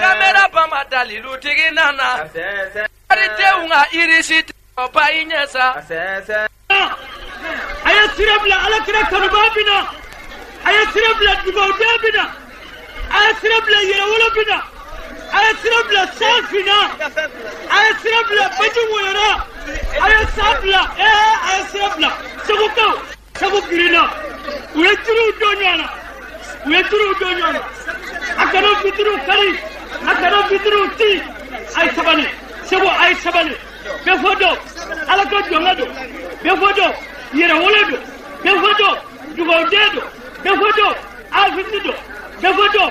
kamera ba ma dalilutigi nana denw ka yiriba i ɲɛ sa a ye sira bila ala kira kanuba bi na a ye sira bila dugawuden bi na a ye sira bila yɛrɛwolo bi na a ye sira bila san finna a ye sira bila baji wɔyɔrɔ a ye san bila ee a ye sira bila segukaw segu girinna u ye turuw don ɲɔgɔn na u ye turuw don ɲɔgɔn na a kana vitiriw kari a kana vitiriw ti a ye sabali segu a ye sabali bɛɛ fɔ dɔn ala ka jɔnkɛ don bɛɛ fɔ dɔn yɛrɛwolo don bɛɛ fɔ dɔn dugawuden don bɛɛ fɔ dɔn afiti don bɛɛ fɔ dɔn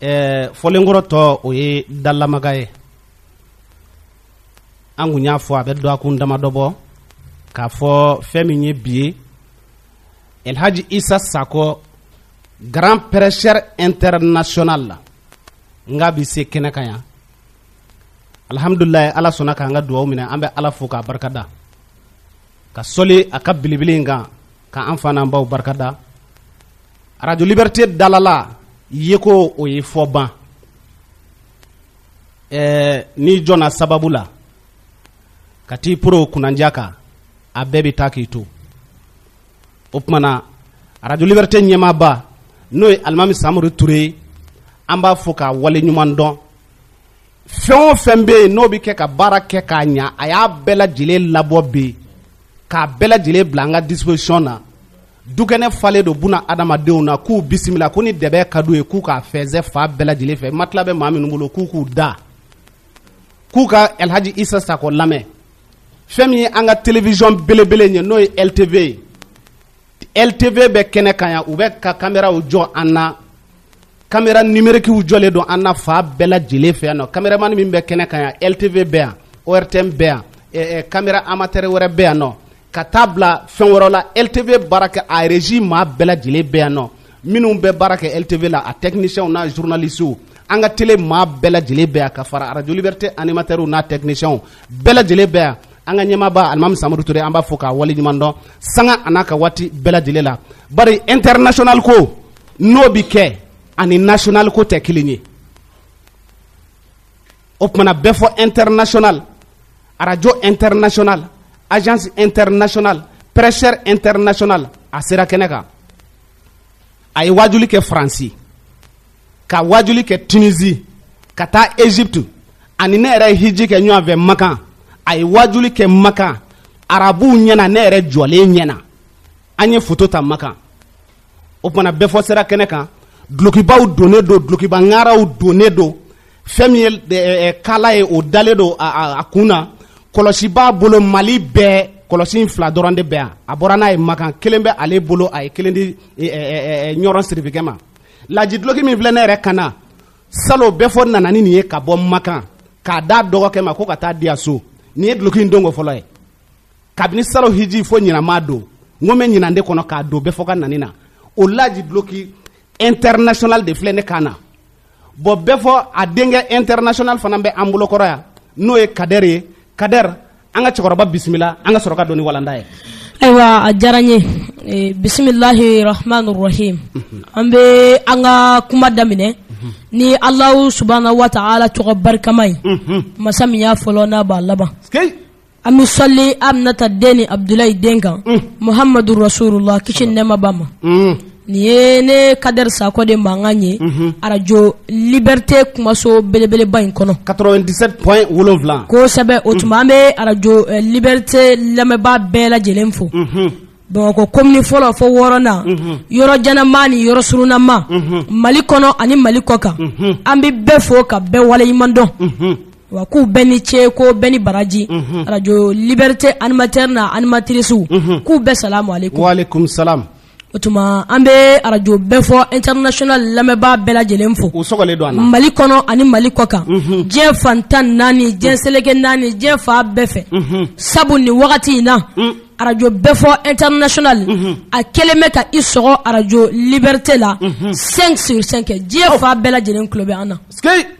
ɛɛ fɔlenkɔrɔtɔ o ye dalamaga ye an kun y'a fɔ a bɛ dɔgɔkun damadɔ bɔ k'a fɔ fɛn min ye bi ye elhaji isa sakɔ grand prêcheur international la n k'a bɛ se kɛnɛ kan yan alhamdulilayi ala sɔnna k'an ka dugawu minɛ an bɛ ala fo k'a barikada ka sɔli a ka belebele in kan ka an fa n'an baw barikada arajo libɛrite dalala ye ko o ye fɔ ban ɛɛ n'i jɔnna sababu la ka t'i poron kunnandiya kan a bɛɛ bɛ taa k'i to o tumana arajo libɛrite ɲɛmaaba n'o ye alimami samori ture ye an b'a fo k'a wale ɲuman dɔn fɛn o fɛn bɛ yen n'o bɛ kɛ ka baara kɛ k'a ɲa a y'a bɛɛ lajɛlen labɔ bi k'a bɛɛ lajɛlen bila an ka disposition na dukɛnɛ falen don buna adamadenw na k'u bisimila ko ni dɛbɛn ka d'u ye k'u k'a fɛnsɛ fan bɛɛ lajɛlen fɛ matila bɛ maa minnu bolo k'u k'u da k'u ka Elhaji Isa Sakɔ lamɛn fɛn min ye an ka télévision belebele in ye n'o ye LTV ye ltv bɛ kɛnɛ kan yan u bɛ ka kameraw jɔ an na kamera numerikiw jɔlen don an na fan bɛɛ lajɛlen fɛ yan nɔ kameramani min bɛ kɛnɛ kan yan ltv bɛ yan ortm bɛ yan kamera amatɛrɛ wɛrɛ bɛ yan nɔ ka t'a bila fɛn wɛrɛ la ltv baara kɛ a reji maa bɛɛ lajɛlen bɛ yan nɔ minnu bɛ baara kɛ ltv la a tɛkinisiyɛnw n'a zurnalisiw an ka tele maa bɛɛ lajɛlen bɛ yan ka fara arajo libɛrite animatɛrɛw n'a tɛkinisiyɛnw bɛɛ lajɛlen bɛ yan an ka ɲɛmaaba alimami samori ture an b'a fo k'a wale ɲuman dɔn sanga an'a ka waati bɛɛ lajɛlen la bari international ko n'o bi kɛ ani national ko tɛ kelen ye o tumana bɛ fɔ international arajo international agence international prêcheur international a sera kɛnɛ kan a ye waajuli kɛ faransi ka wajuli kɛ tunisi ka taa egypte ani ne yɛrɛ ye hiji kɛ ɲɔgɔn fɛ makan a ye wajuli kɛ makan arabuw ɲɛna ne yɛrɛ jɔlen ɲɛna an ye foto ta makan o tumana bɛɛ fɔ sera kɛnɛ kan dulokibaw donnen don dulokiba ŋaraw donnen don fɛn min ye eh, eh, eh, kala ye o dalen don a kun na kɔlɔsi b'a bolo mali bɛɛ kɔlɔsi in fila dɔrɔn de bɛ yan a bɔra n'a ye makan kelen bɛ ale bolo a ye kelen di ɲɔrɔn sirifikɛ ma lajiduloki min filɛ ne yɛrɛ kan na salon bɛɛ fɔ nana ni nin ye ka bɔ makan k'a d'a dɔgɔkɛ ma ko ka taa di a so nin ye duloki in donko fɔlɔ ye kabini salon hiji fo ɲinan n m'a don n ko n bɛ ɲinan de kɔnɔ k'a don bɛɛ fɔ ka nani na o lajiduloki international de filɛ ne kan na bon bɛɛ fɔ a denkɛ international fana bɛ an bolokɔrɔ yan n'o ye kadɛri ye kadɛri an ka cɛkɔrɔba bisimila an ka sɔrɔ ka don ni walanda ye ayiwa a diyara n ye eh, bisimilahi rahmani rahim mhm. an bɛ an ka kuma daminɛ mhm. ni alahu subahana wa taala tɔgɔ barikama ye mhm. masa min y'a fɔlɔ n'a b'a laban an bɛ sɔli aminata den ni abudulayi den kan muhamadu rasulula kisi ni nɛɛma b'a ma nin ye ne kadɛri sakɔ de mankan ye arajo liberté kumaso belebeleba in kɔnɔ 97 point wolonwula kosɛbɛ o tuma an bɛ arajo eh, liberté lamɛnbaa bɛɛ lajɛlen fo bamakɔ komini fɔlɔ fo wɔɔrɔnan yɔrɔ janama ni yɔrɔ surunama mali kɔnɔ ani mali kɔkan an bɛ bɛɛ fo ka bɛɛ waleɲuman dɔn wa k'u bɛɛ ni ce ko bɛɛ ni baraji mhm. arajo liberté animateur n'a animatricew mhm. k'u bɛɛ salamu alaikum o tuma an bɛ arajo bɛɛ fɔ international lamɛnbaa bɛɛ lajɛlen fo u sɔgɔlen don an na mali kɔnɔ ani mali kɔkan mhm. diɲɛ fan tan naani diɲɛ seleke naani diɲɛ fan bɛɛ fɛ mhm. sabu nin wagati in na mm. arajo bɛɛ fɔ international mhm. a kɛlen bɛ ka i sɔgɔ arajo liberté la 5 sur 5 diɲɛ fan bɛɛ lajɛlen tulo bɛ an na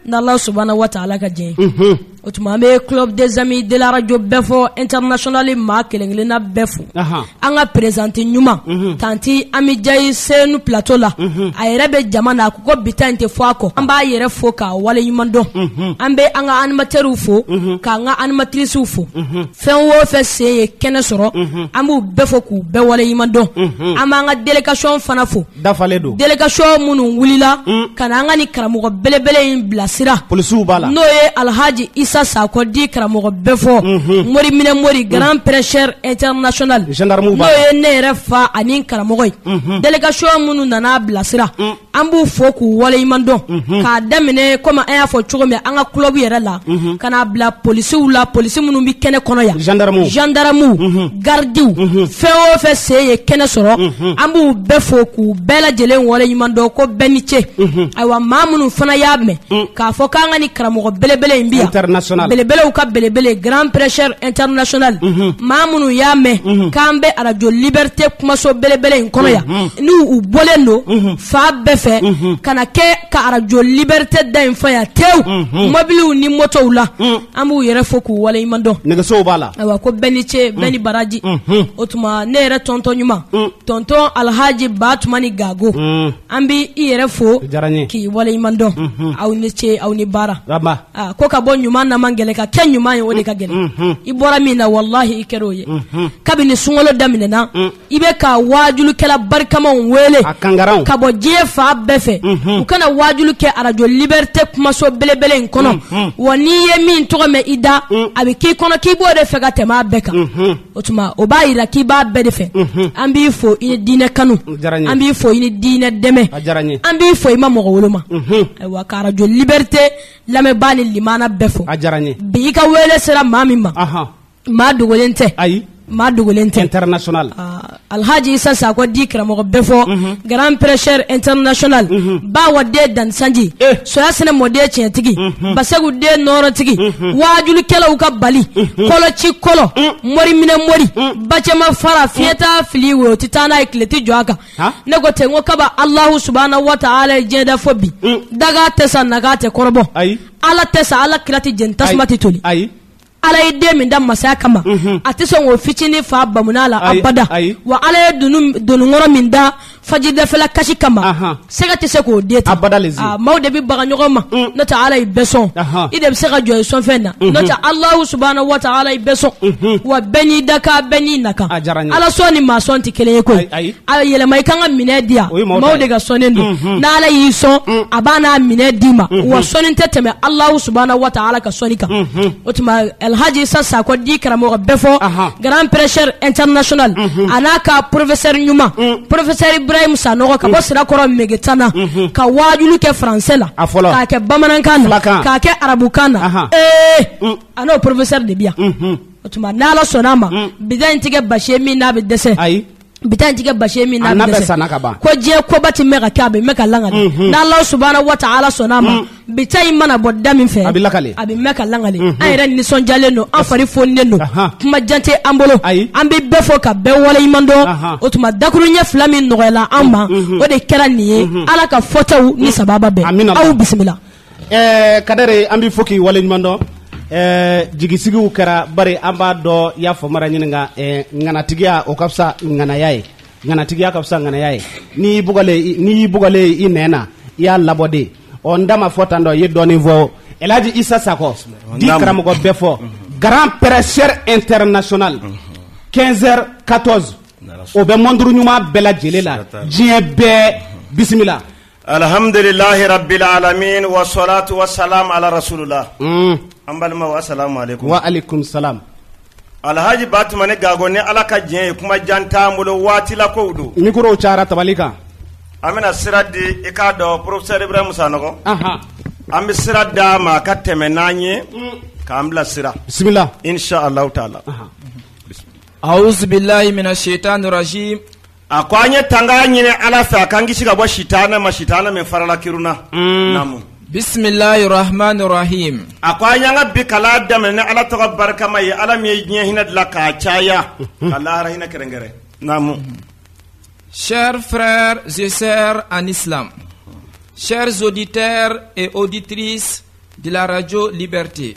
n'Ala subahana wataala ka jɛn ye O tuma an bɛ club des amis de la radio bɛɛ fɔ international maa kelen kelen na bɛɛ fo, anhan, an ka présidente ɲuman, unhun, tanti Ami Jayi Senu plateau la, unhun, a yɛrɛ bɛ jama na a ko ko bi ta in tɛ fɔ a kɔ, an b'a yɛrɛ fo k'a wale ɲuman dɔn, unhun, an bɛ an ka animateurs fo, unhun, k'an ka animatrices fo, unhun, fɛn o fɛn sen ye kɛnɛ sɔrɔ, unhun, an b'u bɛɛ fo k'u bɛɛ wale ɲuman dɔn, unhun, an b'an ka délégation fana fo dafalen don délégation minnu wulila mm. ka na an ka nin karamɔgɔ belebele in bilasira polisiw b'a la n'o ye alhaji isa sakɔ dit karamɔgɔ bɛɛ fɔ mhm. mori minɛ mori mm. grand prêcheur international gendarmew b'a la n'o ye ne yɛrɛ fa ani karamɔgɔ ye mhm. délégation minnu nana bilasira mm. an b'u fo k'u waleɲuman dɔn mhm. k'a daminɛ komi an y'a fɔ cogo min an ka club yɛrɛ la ka n'a bila polisiw la polisi minnu bɛ kɛnɛ kɔnɔ yan gendarmew gendarmew garidiw fɛn o fɛn sen ye kɛnɛ sɔrɔ an b'u bɛɛ fo k'u bɛɛ lajɛlen waleɲuman dɔn ko bɛɛ ni ce ayiwa maa minnu fana y'a mɛn k'a fɔ k'an ka ni karamɔgɔ belebele in bi yan belebelew ka belebele grand prêcheur international maa minnu y'a mɛn k'an bɛ arajo liberté kumaso belebele in kɔnɔ yan n'u u bɔlen don fan bɛɛ fɛ ka na kɛ ka arajo liberté da in fa yan tewu mobiliw ni motow la An b'u yɛrɛ fo k'u waleɲuman dɔn nɛgɛsow b'a la ayiwa ko bɛɛ ni ce bɛɛ ni baraji unhun o tuma ne yɛrɛ tonton ɲuman un tonton Alhaji Batumani Gago un an bɛ i yɛrɛ fo o diyara n ye k'i waleɲuman dɔn unhun aw ni ce aw ni baara Raba aa ko ka bɔ ɲuman na man gɛlɛn ka kɛ ɲuman ye o de ka gɛlɛn unhun i bɔra min na walahi i kɛra o ye unhun kabini sunkalo daminɛna un i bɛ ka waajulikɛla barikamaw wele ka bɔ diɲɛ fan bɛɛ fɛ mhm. u ka na waajuli kɛ arajo liberté kumaso belebele in kɔnɔ mhm. wa n'i ye min tɔgɔ mɛn i da mm. a bɛ k'i kɔnɔ k'i b'o de fɛ ka tɛmɛ a bɛɛ kan mhm. o tuma o b'a yira k'i b'a bɛɛ de fɛ an b'i fo i ni diinɛ kanu an b'i fo i ni diinɛ dɛmɛ an b'i fo i ma mɔgɔ woloma ayiwa ka arajo liberté lamɛnbaa ni limana bɛɛ fo bi i ka wele sera maa min ma maa dogolen tɛ ayi maa dogolen tɛ international ah, alhaji isa sakɔ dit karamɔgɔ bɛɛfɔ mhm. grand prêcheur international mhm. ba wa den danisanji eh. soya sɛnɛ mɔden tiɲɛtigi mhm. basegu den nɔɔrɔtigi waajulikɛlaw ka bali koloci kolo mm. mɔri minɛ mɔri mm. bacɛma fara mm. fiɲɛ t'a fili wo o tɛ taa n'a ye tile tɛ jɔ a kan ne ko ten ko kaba alahu subahana wa taala ye diɲɛ da fo bi dakan tɛ sa nakan tɛ kɔrɔbɔ ala tɛ sa ala kira tɛ jeni tasuma tɛ toli Ala ye den min da masaya kama a tɛ sɔn k'o fitinin faa bamuna la abada wa ala ye dononkɔrɔ min da fajidafɛla kasi kama sɛgɛ tɛ se k'o den ta bada maaw de bɛ baga ɲɔgɔn ma mm. n'o tɛ ala ye bɛɛ sɔn i de bɛ se ka jɔ i sɔnfɛn na mm-hmm. n'o tɛ alahu subahana wa taala ye bɛɛ sɔn mm-hmm. wa bɛɛ n'i dakan bɛɛ n'i nakan ala sɔn ni maa sɔn tɛ kelen ye koyi a yɛlɛma i kan ka minɛn di yan maaw de ka sɔnni don mhm. n'ala y'i sɔn mm. a b'a n'a minɛn d'i ma mhm. wa sɔnni tɛ tɛmɛ alahu subahana wa taala ka sɔnni kan mhm. o tuma alhaji isa sakɔ dit karamɔgɔ bɛɛfɔ grand prêcheur international a n'a ka professeur ɲuman mm. professeur ibrahim sanɔgɔ ka bɔ mm. sirakɔrɔ megetana ka waajuli kɛ faransɛ la k'a kɛ bamanankan na k'a kɛ arabukan na ee eh! a n'o professeur de bi yan o tuma n'ala sɔnna a ma bi ta in tɛ kɛ basi ye min n'a bɛ dɛsɛ bi ta in tɛ kɛ basi min na bɛ sanna ka ban ko diɲɛ koba tɛ mɛn ka kɛ a bɛ mɛn ka langali mhm. n'Ala subahana wataala sɔnna a ma mhm. bi ta in mana bɔ da min fɛ a bɛ lakali a bɛ mɛn ka langali mhm. an yɛrɛ nisɔndiyalen don an fari fonilen don kuma jan tɛ an bolo an bɛ bɛɛ fo ka bɛɛ waleɲuman dɔn o tuma dakurunɲɛ fila min nɔgɔyala an ma o de kɛra nin ye Ala ka fɔtaw ni sababa bɛn aw bisimila. ɛɛ kadɛre an b'i fo k'i waleɲuman dɔn ɛɛ jigisigiw kɛra bari an b'a dɔn y'a fɔ mara ɲini kan ɛɛ ŋanatigiya o ka fisa ŋanaya ye ŋanatigiya ka fisa ŋanaya ye n'i y'i bugalen n'i y'i bugalen i nɛn na i y'a labɔ de ɔ n da ma fɔ tan dɔ i ye dɔɔnin fɔ elhaji isa sakɔ dit karamɔgɔ bɛɛfɔ grand prêcheur international 15 heures 14 o bɛ mɔnturu ɲuman bɛɛ lajɛlen la diɲɛ bɛɛ bisimila Alihamdulilahi rabil alamina wasalatu wasalamu ala rasulilahi an balimaw asalamu alekum waalekum salam alilhaji batumani gako ni ala ka diɲɛ ye kuma jan t'an bolo waati la ko don mikoro cara tabali kan an bɛna sira di i k'a dɔn professeur ibrahim sanɔgɔ an bɛ sira d'a ma ka tɛmɛ n'an ye k'an bila sira bisimila insa ala taala awuzu bilahi mina setani rajim a ko an ye tanga ɲini ala fɛ a k'an kisi ka bɔ sitanɛ ma sitanɛ min farala kiruna mm. namu bisimilahi rahmani rahim a ko an y'an ka bi kalan daminɛ ni ala tɔgɔ barikama ye ala min ye diɲɛ hinɛ dilan k'a caya ka lahara hinɛ kɛrɛnkɛrɛn namu chers frères et sœurs en islam chers auditeurs et auditrices de la radio liberté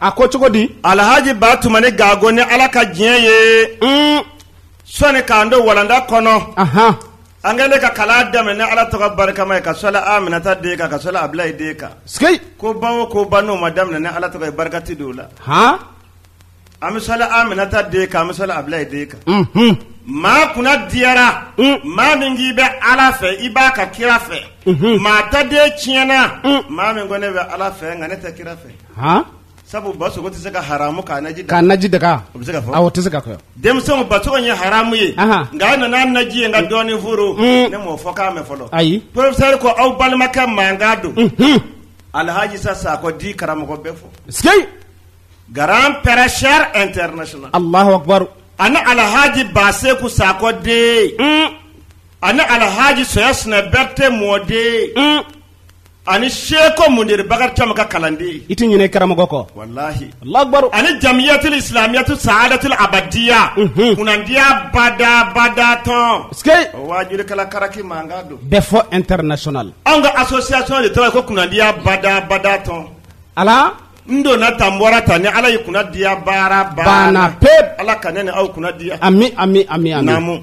a ko cogo di alhaji batumani gago ni ala ka diɲɛ ye mm. sɔni k'an don walanda kɔnɔ an kɛlen ka kalan daminɛ ni ala tɔgɔ barikama ye ka sɔli aminata den kan ka sɔli abulayi den kan sikeyi ko ba o ko ba n'o ma daminɛ ni ala tɔgɔ ye barika tɛ don o la an bɛ sɔli aminata den kan an bɛ sɔli abulayi den kan mhm. maa kunna diyara mm. maa min k'i bɛ ala fɛ i b'a ka kira fɛ mhm. maa ta de tiɲɛna mm. maa min ko ne bɛ ala fɛ nka ne tɛ kira fɛ sabu basogo tɛ se ka haramu k'a naji k'a naji daga bɛ se tɛ se ka denmisɛn basogo ye haramu ye nka nana naji ye ka dɔɔnin foron ne m'o fɔkan mɛn fɔlɔ ayi professeur ko aw balimakɛ mankan don alilhaji isa sakɔ dit karamɔgɔ bɛɛfɔ sikeyi grand prêcheur international alahu akbar ani alahaji baseko sakɔ den ani alahaji soya sina berete mɔden ani seko mudir bakari cam ka kalanden i tɛ ɲinɛ karamɔgɔ kɔ walahi alahu akbaru ani jamiyatil islamiyatu saadatil abadiya kunnadiya bada bada tɔn wajulikɛla karaki mankan don bɛɛfɔ international anw ka asonsiyasɔn de tɔgɔ ko kunnadiya bada bada tɔn ala n donna tan n bɔra tan ni ala y'i kunnadiya baara banna pewu ala ka ne ni aw kunnadiya ami ami ami ami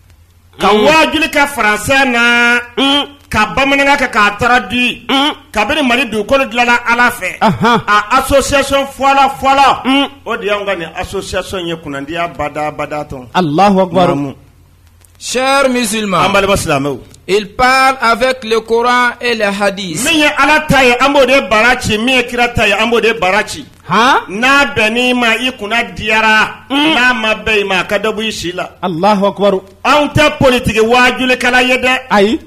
ka wajuli kɛ faransɛ na ka bamanankan kɛ k'a traduire kabini mali dugukolo dilanna ala fɛ a asonsiyasɔn fɔlɔ fɔlɔ o de y'an ka nin asonsiyasɔn ye kunnadiya badabada tɔn alahu akbaru chers musulmans an balima silamɛw Il parle avec le Coran et les hadiths min ye ala ta ye an b'o de bara ci min ye kira ta ye an b'o de bara ci n'a bɛnn'i ma i kunna diyara n'a ma bɛn i ma a ka dabu i si la Allahu akbar an tɛ politigi wajulikɛla ye dɛ ayi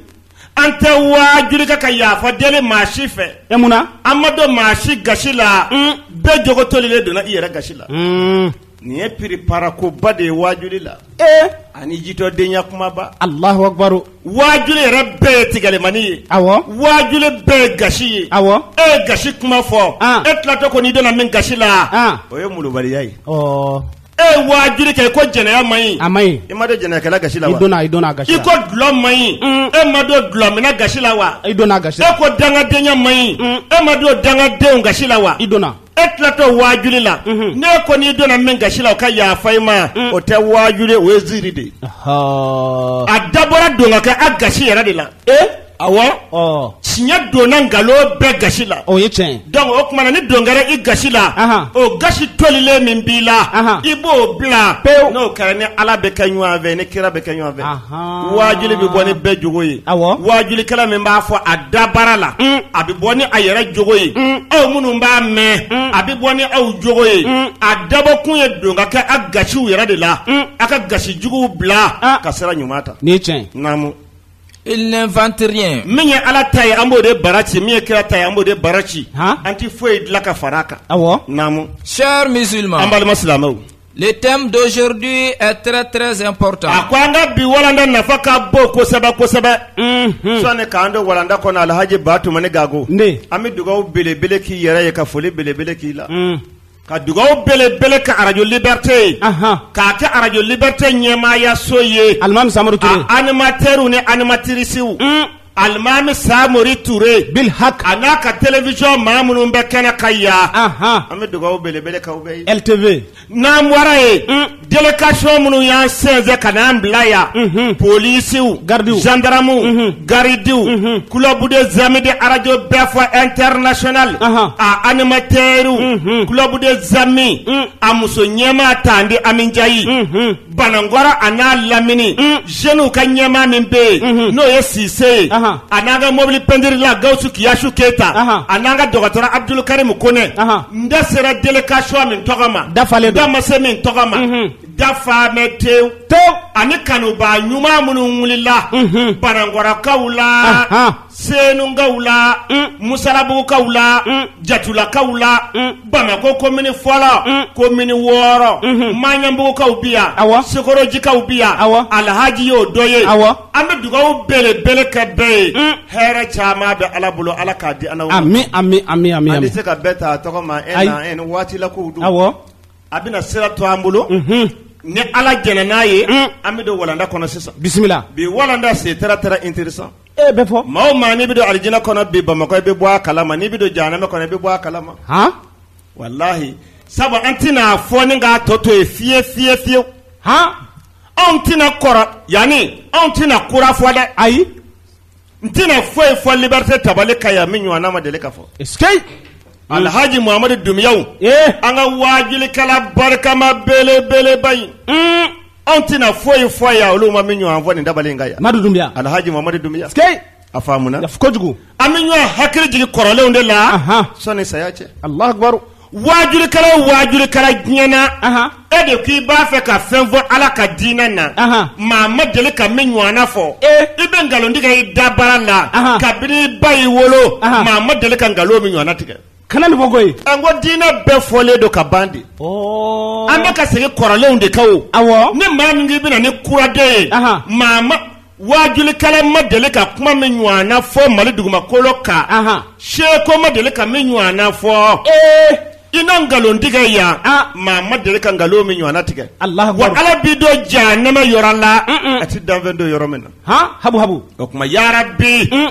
an tɛ wajuli kɛ ka yafa deli maa si fɛ e mun na an ma don maa si gasi la bɛɛ jogo tolilen donna i yɛrɛ gasi la Nin ye piripara koba de ye wajuli la ee ani jitɔdenya kumaba Allahu akbar wajuli yɛrɛ bɛɛ ye tigɛlimani ye awɔ wajuli bɛɛ ye gasi ye awɔ e ye gasi kuma fɔ e tilatɔ ko ne donna min gasi la o ye malobaliya ye e ye wajuli kɛ i ko jɛnɛya ma ɲi a ma ɲi i ma don jɛnɛkɛla gasi la wa i donna gasi i ko dulɔ ma ɲi mm. e ma don dulɔminna gasi la wa i donna gasi e ko dangadenya ma ɲi mm. e ma don dangadenw gasi la wa i donna e tilatɔ wajuli la ne kɔni donna min gasi la o ka yafa i ma o tɛ wajuli o ye ziiri de ye Ɔhɔɔ. a dabɔra don ka kɛ a gasi yɛrɛ de la e awɔ Ɔ. tiɲɛ donna nkalon bɛɛ gasi la o ye tiɲɛ ye. donc o tuma na ni don kɛra i gasi la Ahan. o gasi tolilen min b'i la Ahan. i b'o bila Pewu. n'o kɛra e ni ala bɛ kɛ ɲɔgɔn fɛ ni kira bɛ kɛ ɲɔgɔn fɛ Ah. wajuli bɛ bɔ ni bɛɛ jogo ye wajulikɛla min b'a fɔ a dabara la a bɛ bɔ ni a yɛrɛ jogo ye aw minnu b'a mɛn a bɛ bɔ ni aw jogo ye a dabɔ kun ye don ka kɛ a gasiw yɛrɛ de la a ka gasi juguw bila ka sira ɲuman ta ni tiɲɛ naamu il n'invente rien min ye ala ta ye an b'o de bara ci min ye kira ta ye an b'o de bara ci an tɛ foyi dilan ka fara a kan awɔ naamu chers musulmans an balima silamɛw Le thème d'aujourd'hui est très très important. A ko an ka bi walanda nafa ka bon kosɛbɛ kosɛbɛ. Unhun. Sɔni k'an don walanda kɔnɔ Alhaji Ba Tumani Gago. Ne. An bɛ dugawu belebele k'i yɛrɛ ye ka foli belebele k'i la. Un. Ka dugawu belebele kɛ Radio Liberté ye. Ahan. K'a kɛ Radio Liberté ɲɛmaayaso ye. Alimami Samori Ture. A animateurs ni animatrices. Un. alimami samori ture bil hak a n'a ka television maa minnu bɛ kɛnɛ kan yan an bɛ dugawu belebele k'aw bɛɛ ye ltv n'an bɔra ye mm. délégation minnu y'an sɛnsɛn ka n'an bila yan mhm. polisiw garidiw zandaramuw mhm. garidiw mhm. club des amis de arajo bɛɛ fɔ international a animatɛriw club des amis mm. a muso ɲɛmaa tanti ami njayi Banankɔrɔ a n'a lamini jeunesw ka ɲɛmaa min bɛ yen n'o ye sise ye a n'an ka mɔbili pentirila gawusu kiyasu keyita a n'an ka dɔgɔtɔrɔ abudukarimu konɛ n da sera délégation min tɔgɔ ma dafalen don da ma se min tɔgɔ ma dafa bɛ te to ani kanuba ɲuman minnu wulila banankɔrɔkaw la Senukaw la musalabugukaw la jatulakaw la bamakɔ komini fɔlɔ komini wɔɔrɔ maɲanbugukaw bi yan a wa sokɔrɔjikaw bi yan a alhaji y'o dɔ ye a an bɛ dugawu belebele kɛ bɛɛ ye hɛrɛ caman bɛ ala bolo ala k'a di an na ami ami an tɛ se ka bɛɛ ta tɔgɔ ma e waatilako don a a bɛna sira to an bolo ni ala jɛnna n'a ye an bɛ don walanda kɔnɔ sisan bisimila bi walanda c'est très très intéressant e bɛ fɔ maa maa n'i bɛ don alijina kɔnɔ bi bamakɔ i bɛ bɔ a kala ma n'i bɛ don jahanama kɔnɔ i bɛ bɔ a kala ma walahi sabu an tɛna fɔ ni k'a tɔ to ye fiye fiye fiyewu hɔn anw tɛna kɔrɔ yanani anw tɛna kura fɔ dɛ ayi n tɛna foyi fɔ liberté tabali kan yan min ɲɔgɔnna ma deli ka fɔ alhaji muhamadu dunbiya an ka waajulikɛla barikama belebeleba in anw tɛna foyi fɔ yan olu ma min ɲɔgɔn fɔ nin tabali in kan yan madu dunbiya alhaji mamadu dunbiya sikei a faamuna kojugu an bɛ ɲɔgɔn hakili jigin kɔrɔlenw de la sɔni saya cɛ alahu akibaru waajurikɛla o waajurikɛla diɲɛ na e de k'i b'a fɛ ka fɛn fɔ ala ka diinɛ na maa ma deli ka min ɲɔgɔnna fɔ i bɛ nkalon tigɛ i da baara la kabini i ba y'i wolo maa ma deli ka nkalon min ɲɔgɔnna tigɛ kana nin fɔ koyi an ko diinɛ bɛɛ fɔlen don ka ban de ɔɔ an bɛ ka segin kɔrɔlenw de kan o awɔ ni maa min k'i bɛna ni kura de ye Aha. maa ma waajulikɛla ma deli ka kuma min ɲɔgɔn na fɔ mali dugumakolo kan Aha. seko ma deli ka min ɲɔgɔn na fɔ ee i na nkalon tigɛ yan Ah. maa ma deli ka nkalon min ɲɔgɔn na tigɛ Allahu Akbar. wa ala b'i don jahanama yɔrɔ la Mm-mm. a ti danfɛn don yɔrɔ min na han habu habu o tuma yarabi Mm.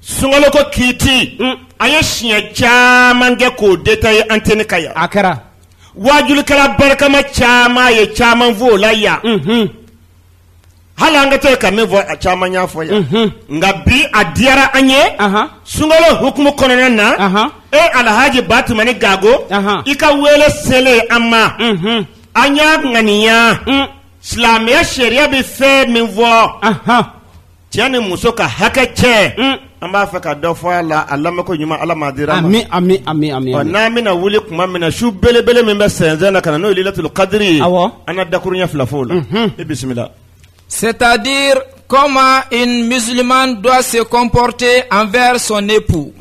Sunkalo ko kiiti an ye siɲɛ caman kɛ k'o détailler antenne kan yan a kɛra waajulikɛla barikama caman ye caman fɔ o la yan hali an ka to ka min fɔ a caman y'a fɔ yan nka bi a diyara an ye sunkalo hukumu kɔnɔna na e alhaji batumani gago i ka wele selen an ma an y'a ŋaniya silamɛya sariya bɛ fɛn min fɔ Cɛ ni muso ka hakɛ cɛ un an b'a fɛ ka dɔ fɔ a la a lamɛnko ɲuman Ala m'a dir'an ma ami ami ami ami ɔ n'an bɛna wuli tuma min na su belebele min bɛ sɛnsɛn na ka na n'o ye Lailatul Kadiri ye awɔ an na dakuruɲɛ fila fɔ o la unhun i bisimila c'est-à-dire comment une musulmane doit se comporter envers son époux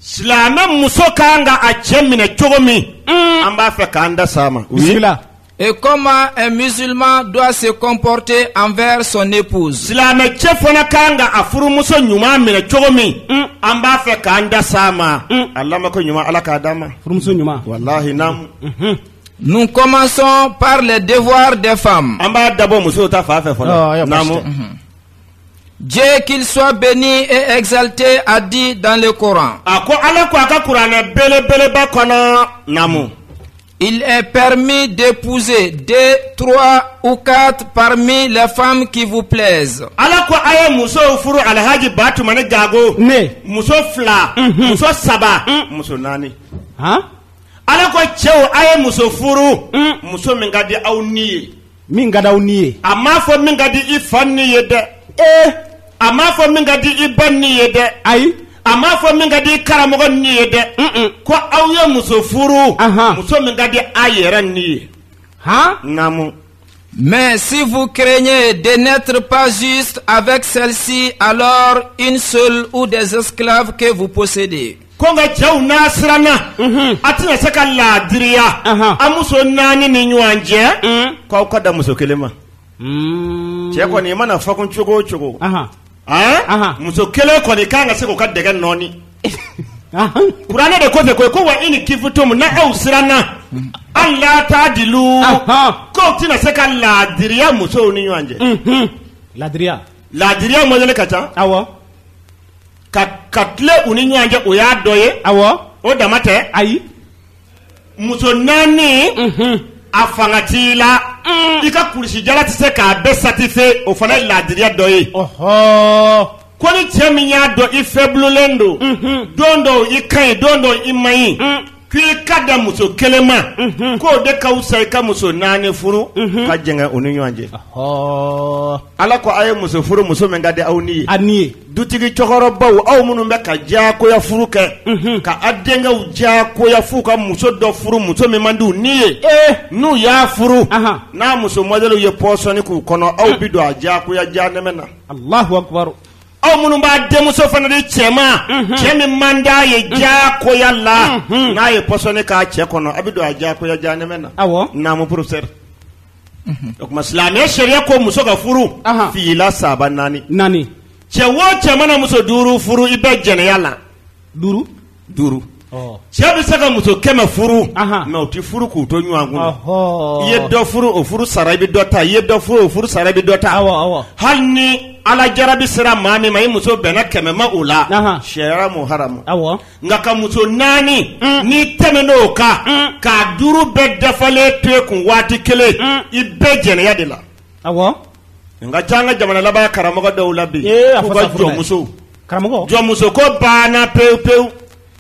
silamɛ muso ka kan ka a cɛ minɛ cogo min an b'a fɛ k'an da s'a ma bisimila Et comment un musulman doit se comporter envers son épouse. Silamɛ cɛ fana ka kan ka a furumuso ɲuman minɛ cogo min. Mm. An b'a fɛ k'an da s'a ma. Mm. A lamɛn ko ɲuman ala k'a d'a ma. Furumuso ɲuman. Walahi naamu. Mhm. Nous commençons par les devoirs des femmes. An b'a dabɔ musow ta fan fɛ fɔlɔ. Naamu. Mhm. Dieu qu'il soit béni et exalté a dit dans le Coran. A ko Ala ko a ka kuranɛ belebeleba kɔnɔ naamu. Il est permis d'épouser deux, trois ou quatre parmi les femmes qui vous plaisent. Ala ko a ye musow furu Alhaji Batumani Gago. Ne. Muso fila. Mhm. Muso saba. Mm. Muso naani. Han. Ala ko cɛw a ye muso furu. Mm. Muso min ka di aw ni ye. min ka di aw ni ye a m'a fɔ min ka di i fa ni ye dɛ ee a m'a fɔ min ka di i ba ni ye dɛ ayi a m'a fɔ min ka di i karamɔgɔ ni ye dɛ ko aw ye muso furu muso min ka di a yɛrɛ ni ye han naamu Mais si vous craignez de n'être pas juste avec celle-ci, alors une seule ou des esclaves que vous possédez. ko nka cɛw n'a siranna a tɛna se ka laadiriya a muso naani ni ɲɔgɔn cɛ k'aw ka dan muso kelen ma mm. cɛ kɔni i mana fakun cogo o cogo muso kelen kɔni kan ka se k'o ka dɛgɛ nɔɔni kuranɛ de kɔfɛ koyi ko wa in kifutum n'aw siranna ala taadilu k'aw tɛna se ka laadiriya musow ni ɲɔgɔn cɛ laadiriya laadiriya mɔdɛli ka ca awɔ ka tilen u ni ɲɔgɔn cɛ o y'a dɔ ye awɔ o dama tɛ ayi muso naani mhm. a fanga t'i la mm. i ka kulusijala tɛ se k'a bɛɛ satisfait o fana ye laadiriya dɔ ye ko ni cɛ min y'a dɔn i faiblelen don mhm. don dɔw i ka ɲi don dɔw i man ɲi mm. K'i ka dan muso kelen ma k'o de ka wusa i ka muso naani furu ka jɛngɛ u ni ɲɔgɔn cɛ ala ko aw ye muso furu muso min ka di aw ni ye dutigi cɛkɔrɔbaw aw minnu bɛ ka diyakoya furu kɛ ka aw denkɛw diyakoya f'u ka muso dɔ furu muso min man di u ni ye n'u y'a furu n'a muso mɔdɛli ye pɔsɔni k'u kɔnɔ aw bɛ don a diyakoya janɛmɛ na aw minnu b'a denmuso fana di cɛ ma cɛ min man d'a ye diyakoya la n'a ye pɔsɔni k'a cɛ kɔnɔ a bɛ don a diyakoya janɛmɛ na Awɔ. naamu professeur o tuma silamɛya sariya ko muso ka furu Ahan. fila saba naani naani cɛ o cɛ mana muso duuru furu i bɛ jɛnɛya la duuru duuru cɛ bɛ se ka muso kɛmɛ furu mais o tɛ furu k'u to ɲɔgɔn kun i ye dɔ furu o furu sara i bɛ dɔ ta i ye dɔ furu o furu sara i bɛ dɔ ta hali ni ala jarabi sera maa min ma i muso bɛnna kɛmɛ ma o la sariya m'o haramu nka ka muso naani n'i tɛmɛn'o kan k'a duuru bɛɛ dafalen to i kun waati kelen i bɛ jɛnɛya de la nka ca an ka jamana laban karamɔgɔ dɔw la bi k'u ka jɔnmusow jɔnmuso ko banna pewu pewu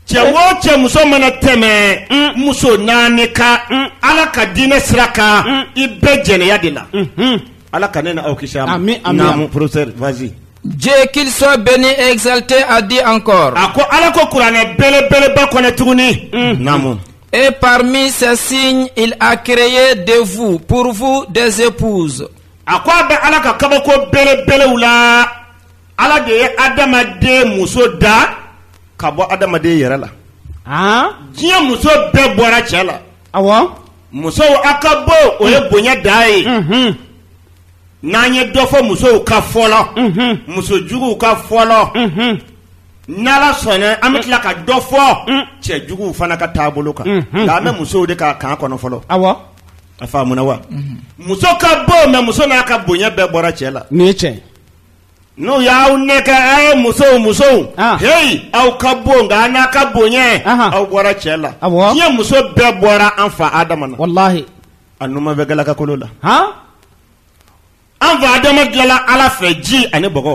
cɛ o cɛ muso mana tɛmɛ muso naani kan ala ka diinɛ sira kan i bɛ jɛnɛya de la ala ka ne n'aw kisi naamu professeur vas-y Dieu qu'il soit béni et exalté a dit encore. A ko ala ko kuranɛ belebeleba kɔnɔ tuguni. Naamu. Et parmi ses signes il a créé de vous pour vous des épouses a ko a bɛ ala ka kabako belebelew la ala de ye adamaden muso da ka bɔ adamaden yɛrɛ la diɲɛ muso bɛɛ bɔra cɛ la aw musow aw ka bon o ye bonya da ye n'an ye dɔ fɔ musow kan fɔlɔ muso juguw kan fɔlɔ ni ala sɔnna an bɛ tila ka dɔ fɔ mm. cɛ juguw fana ka taabolo kan mm-hmm. nka an bɛ musow de ka kan kɔnɔ fɔlɔ a faamuna wa mm-hmm. muso ka bon mais muso n'a ka bonya bɛɛ bɔra cɛ la nin ye tiɲɛ ye n'u y'aw nɛgɛ a ye musow musow ah. heyi aw ka bon nka aw n'aw ka bonya aw bɔra cɛ la diɲɛ muso bɛɛ bɔra an fa adama na walahi a numanfɛ galakakolo la an fa adama dilanla ala fɛ ji ani bɔgɔ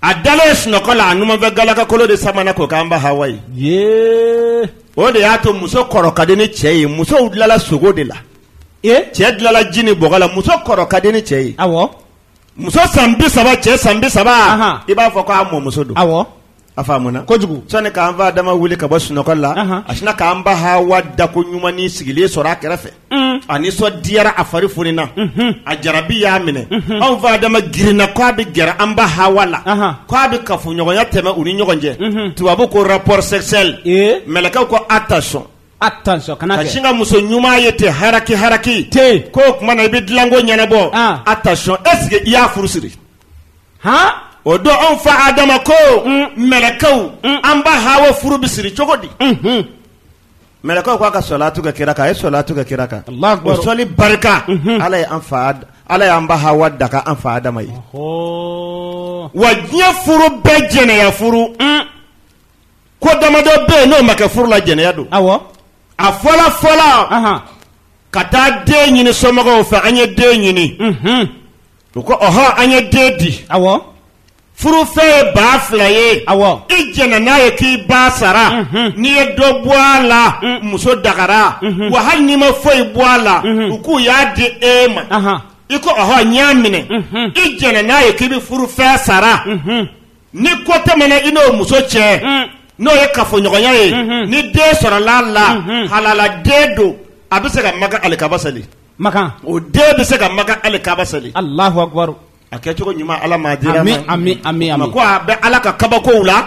a dalen sunɔgɔ la a numanfɛ galakakolo de samana k'o k'an ba hawa ye yee o de y'a to muso kɔrɔ ka di ni cɛ ye musow dilanla sogo de la ee cɛ dilanla ji ni bɔgɔ la muso kɔrɔ ka di ni cɛ ye awɔ muso san bi saba cɛ san bi saba Ahan. i b'a fɔ ko a mɔmuso don awɔ A faamuna kojugu sani k'an fa adama wuli ka bɔ sunɔgɔ la a sinna k'an ba hawa dako ɲumannin sigilen sɔrɔ a kɛrɛfɛ a nisɔndiyara a fari funina a jarabi y'a minɛ anw fa adama girinna k' a bɛ gɛrɛ an ba hawa la k' a bɛ kafoɲɔgɔnya tɛmɛ u ni ɲɔgɔn cɛ tubabu ko rapport sexuel mɛlɛkɛw ko attention attention kana sin ka muso ɲuman ye ten haraki haraki ten k'o tuma na i bɛ dilanko ɲɛnabɔ attention est-ce que i y'a furu siri o don anw fa adama ko mɛlɛkɛw an ba hawa furu bɛ siri cogo di mɛlɛkɛw k'a ka salatu kɛ kira kan a ye salatu kɛ kira kan sɔli barika ala ye an fa ala y'an ba hawa daga an fa adama ye wa diɲɛ furu bɛɛ jɛnɛya furu ko damadɔ bɛ yen n'o ma kɛ furu la jɛnɛya don a fɔlɔ fɔlɔ ka taa den ɲini somɔgɔw fɛ an ye den ɲini u ko ɔhɔn an ye den di awɔ furufɛn ye baa fila ye awɔ i jɛnna n'a ye k'i b'a sara n'i ye dɔ bɔ a la muso dagara wa hali n'i ma foyi bɔ a la u k'u y'a di e ma ahan i ko ɔhɔn n y'a minɛ i jɛnna n'a ye k'i bɛ furufɛn sara ni ko tɛmɛna i n'o muso cɛ n'o ye kafoɲɔgɔnya ye ni den sɔrɔla a la halala den don a bɛ se ka makan alikaba seli makan o den bɛ se ka makan alikaba seli alahu akubaru a kɛcogo ɲuman ala m'a dira an ma amiina amiina ko a bɛ ala ka kabakow la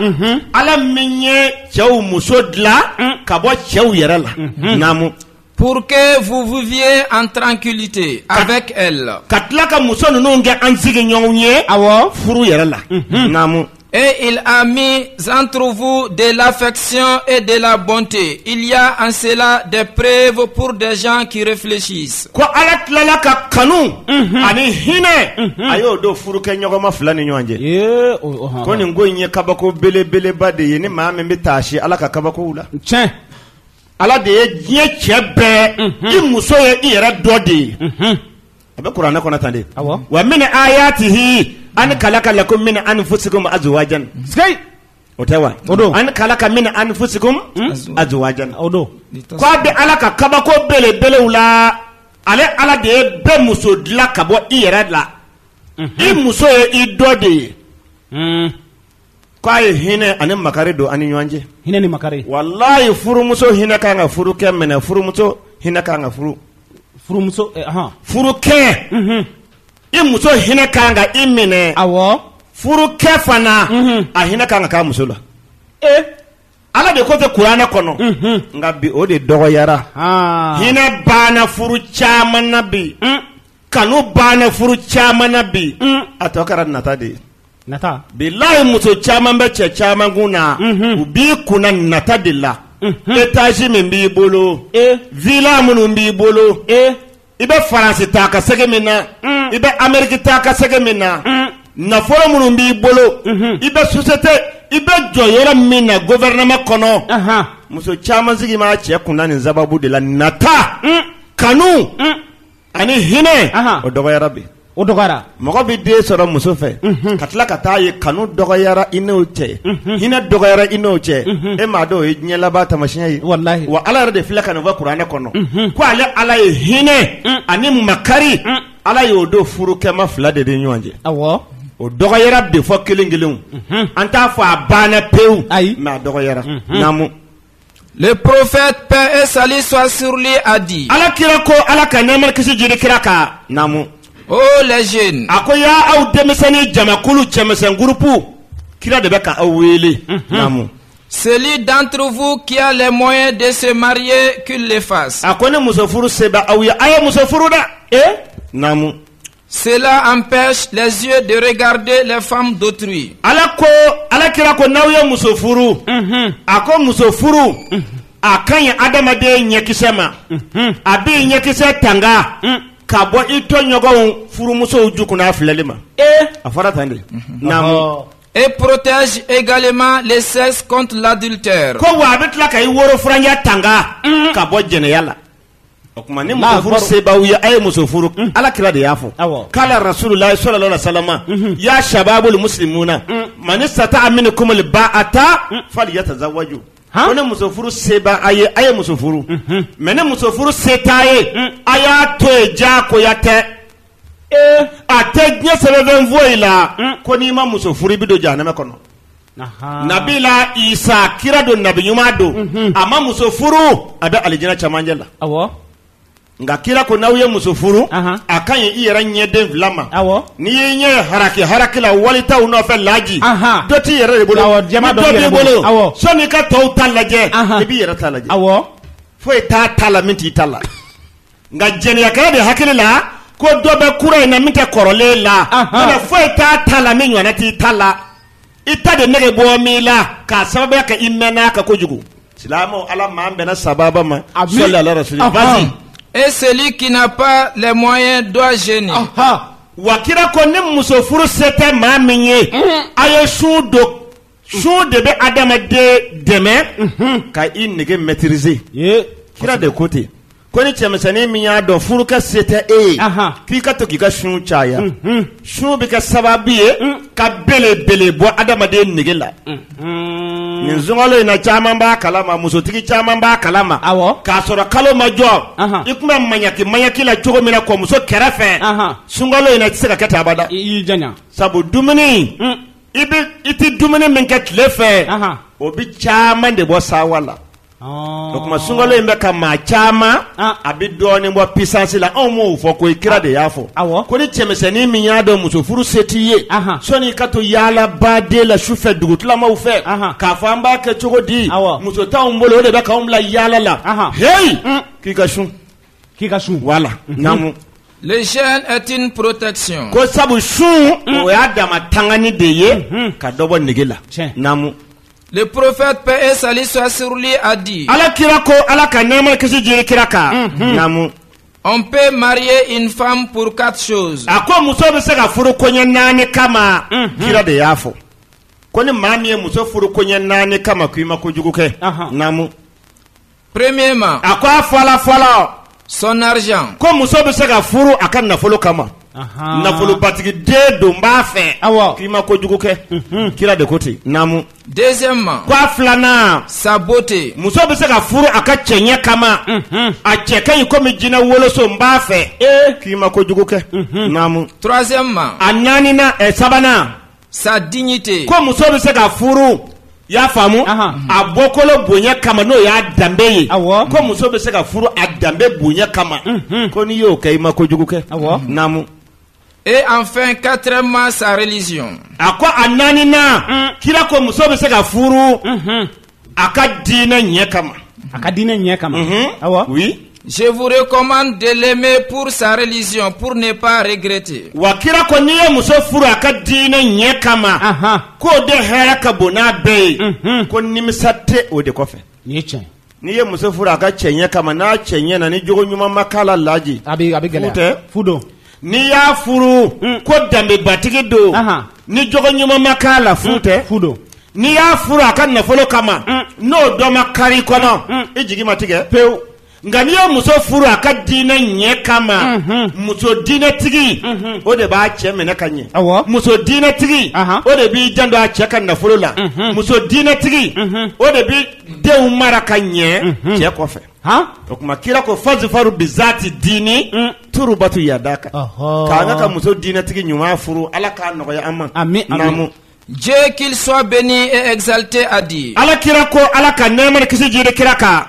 ala min ye cɛw muso dilan ka bɔ cɛw yɛrɛ la naamu Pour que vous viviez en tranquillité avec elle. ka tila ka muso ninnu kɛ an sigiɲɔgɔnw ye awɔ furu yɛrɛ la naamu Et il a mis entre vous de l'affection et de la bonté. Il y a en cela des preuves pour des gens qui réfléchissent. Ko Ala tilala ka kanu mhm. ani hinɛ mhm. a y'o don furukɛɲɔgɔnma fila ni ɲɔgɔn cɛ. Ko nin ko in ye kabako belebeleba de ye ni maa min bɛ taasi Ala ka kabakow la. Tiɲɛ. Ala de ye diɲɛ cɛ bɛɛ mhm. i muso ye i yɛrɛ dɔ de ye. a bɛ kuranɛ kɔnɔ tan de wa min ayatihi an kalaka lakum min anfusikum azwajan o tɛ wa o don an kalaka min anfusikum azwajan o don k' a bɛ ala ka kabako belebelew la ale ala de ye bɛɛ muso dilan ka bɔ i yɛrɛ la i muso ye i dɔ de ye k' a ye hinɛ ani makari don an ni ɲɔgɔn cɛ hinɛ ni makari walayi furumuso hinɛ ka kan ka furukɛ minɛ furumuso hinɛ ka kan ka furu furumuso furukɛ i muso hinɛ ka kan ka i minɛ a furukɛ fana a hinɛ ka kan ka k'a muso la ee ala de ko ten kuranɛ kɔnɔ nka bi o de dɔgɔyara hinɛ banna furu caman na bi kanu banna furu caman na bi a tɔ kɛra nata de ye nata bilayi muso caman bɛ cɛ caman kun na u b'i kun na nata de la etazi min b'i bolo e vila minnu b'i bolo e i bɛ faransi taa ka segin min na i bɛ ameriki taa ka segin min na nafolo minnu b'i bolo i bɛ sosiyete i bɛ jɔyɔrɔ min na gofɛrɛnama kɔnɔ muso caman sigi b'a cɛ kun na nin sababu de la nata kanu ani hinɛ Ahan. o dɔgɔyara bi o dɔgɔyara mɔgɔ bɛ den sɔrɔ muso fɛ ka tila ka t'a ye kanu dɔgɔyara i n'o cɛ hinɛ dɔgɔyara i n'o cɛ e m'a dɔn o ye diɲɛ laban taamasiyɛn ye Walahi. wa ala yɛrɛ de filɛ ka nin fɔ kuranɛ kɔnɔ ko ale ala ye hinɛ ani makari ala y'o don furukɛma fila de ni ɲɔgɔn cɛ awɔ o dɔgɔyara de fo kelen kelenw an t'a fɔ a banna pewu Ayi. mais a dɔgɔyara naamu Le prophète, paix et salut soit sur lui, a dit. ala kira ko ala ka nɛɛma ni kisi jiri kira kan naamu. Oh les jeunes. a ko yaa aw denmisɛnnin jamakulu cɛmisɛn gurupu kira de bɛ ka aw wele. naamu. Celui d'entre vous qui a les moyens de se marier, qu'il le fasse. A ko ni muso furu se bɛ aw ye, a ye muso furu dɛ. Eh? Naamu. Cela empêche les yeux de regarder les femmes d'autrui. Ala kira ko n'aw ye muso furu. Mhm. A ko muso furu. Mhm. A ka ɲi adamaden ɲɛkisɛ ma. Mhm. A b'i ɲɛkisɛ tanga. Mm. Ka bɔ i tɔɲɔgɔnw furumusow ju kunna filɛli ma. E. A fɔra tan de. Naamu. Et protège également le sexe contre l'adultère. Ko wa a bɛ tila ka i woro furancɛ tanga. Ka bɔ jɛnɛya la. O tuma ni muso furu se b'aw ye a ye muso furu ala kira de y'a fɔ kala rasulullahi sallallahu alaihi wasallam ya shababul muslimuna man istata'a minkum al-ba'ata falyatazawwaj ko ni muso furu se b'aw ye a ye muso furu mais ni muso furu se t'aw ye a y'a to yen jagoya tɛ A tɛ diɲɛ sɛbɛnfɛn foyi la ko n'i ma muso furu i bɛ don jahanama kɔnɔ nabila isa kira don nabi ɲuman don a ma muso furu a bɛ alijina cɛmancɛ la nka kira ko n'aw ye muso furu a ka ɲi i yɛrɛ ɲɛden fila ma n'i y'i ɲɛ haraki haraki la wali taw nɔfɛ laji dɔ t'i yɛrɛ de bolo ni dɔ b'i bolo sɔni i ka tɔw ta lajɛ i b'i yɛrɛ ta lajɛ foyi t'a ta la min t'i ta la nka jɛnɛyakɛla de hakili la ko dɔ bɛ kura in na min tɛ kɔrɔlen la wala foyi t'a ta la min ɲɔgɔnna t'i ta la i ta de nege bɔ min la k'a sababuya kɛ i mɛnna a kan kojugu silamɛw ala m'an bɛnna sababa ma salli ala rasuli vas-y et celui qui n'a pas les moyens doit jeûner wa kira ko ni muso furu se tɛ maa min ye a ye sun don Sun de bɛ adamaden dɛmɛ ka i nege maîtriser kira de ko ten ko ni cɛmisɛnnin min y'a dɔn furukɛ se tɛ e ye k'i ka to k'i ka sun caya sun bɛ kɛ sababu ye ka belebele bɔ adamaden nege la nin sunkalo in na caman b'a kalama musotigi caman b'a kalama k'a sɔrɔ kalo ma jɔ i tun bɛ mayaki mayaki la cogo min na kɔmuso kɛrɛfɛ sunkalo in na i tɛ se ka kɛ ten abada sabu dumuni I i tɛ dumuni min kɛ tile fɛ o bɛ caman de bɔ sawa la o tuma sunkalo in bɛ ka maa caman a bɛ dɔɔnin bɔ puissance la anw m'o fɔ koyi kira de y'a fɔ ko ni cɛmisɛnnin min y'a dɔn muso furu se t'i ye sɔni i ka to yaalaba de la su fɛ dugutilamaw fɛ k'a fɔ an b'a kɛ cogo di muso t'anw bolo o de bɛ k'anw bila yaala la heyi k'i ka sun K'i ka sun bla lec porota ko sabu sun o y'a da tanani de ye ka dɔbɔ nɛgɛge la tiɲɛmu porofɛp e sa sɔ srli a di ala kirara ko ala ka ɲɛma kisi jiri kira kan namu an bɛ maria infamin pka a ko muso bɛ se ka furu koɲɛ naani kama kira de y'a fɔ ko ni maa min ye muso furu koɲɛ naani kama k ii ma ko jugu kɛ naamumu premièrement a ko a fɔlɔ fɔlɔ son argent ko muso bɛ se ka furu a ka nafolo kama nafolobatigi den don n b'a fɛ awɔ k'i ma kojugu kɛ mhm. kira de ko ten naamu deuxièmement ko a filanan sa beauté muso bɛ se ka furu a ka cɛɲɛ kama mhm. a cɛ ka ɲi komi jinɛ woloso n b'a fɛ eh. k'i ma kojugu kɛ mhm. naamu troisièmement a naaninan ɛ eh, sabanan sa dignité ko muso bɛ se ka furu i y'a faamu a bɔkolo bonya kama n'o y'a danbe ye ko muso bɛ se ka furu a danbe bonya kama mhm. ko n'i y'o kɛ i ma kojugu kɛ naamu et enfin quatrièmement sa religion a ko a naaninan mm. kira ko muso bɛ se ka furu mhm. a ka diinɛ ɲɛ kama a ka diinɛ ɲɛ kama mhm. awa oui Je vous recommande de l'aimer pour sa religion, pour ne pas regretter. Wa kira ko n'i ye muso furu a ka diinɛ ɲɛ kama. K'o de hɛrɛ ka bon n'a bɛɛ ye. Mhm. Ko nimisa tɛ o de kɔfɛ. Nin ye tiɲɛ ye. N'i ye muso furu a ka cɛɲɛ kama n'a cɛ ɲɛna ni jogo ɲuman ma k'a la laji. A bɛ a bɛ gɛlɛya. Fu tɛ. Fu don. N'i y'a furu ko danbebatigi don ni jogo ɲuman ma k'a la fu tɛ n'i y'a furu a ka nafolo kama n'o dɔ ma kari kɔnɔ i jigi ma tigɛ pewu nka n'i ye muso furu a ka diinɛ ɲɛ kama muso diinɛtigi o de b'a cɛ minɛ ka ɲɛ muso diinɛtigi o de b'i janto a cɛ ka nafolo la muso diinɛtigi o de bɛ denw mara ka ɲɛ cɛ kɔfɛ o tuma kira ko fazifaru bizati diini turubatu yadaka k'an ka muso diinɛtigi ɲuman furu ala k'a nɔgɔya an ma amiina Dieu qu'il soit béni et exalté a dit ala kira ko ala ka nɛɛma kisi jigi kira kan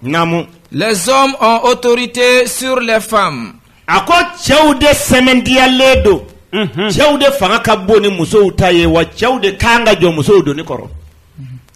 naamu les hommes ont autorité sur les femmes a ko cɛw de sɛmɛntiyalen don cɛw de fanga ka bon ni musow ta ye wa cɛw de ka kan ka jɔ musow doni kɔrɔ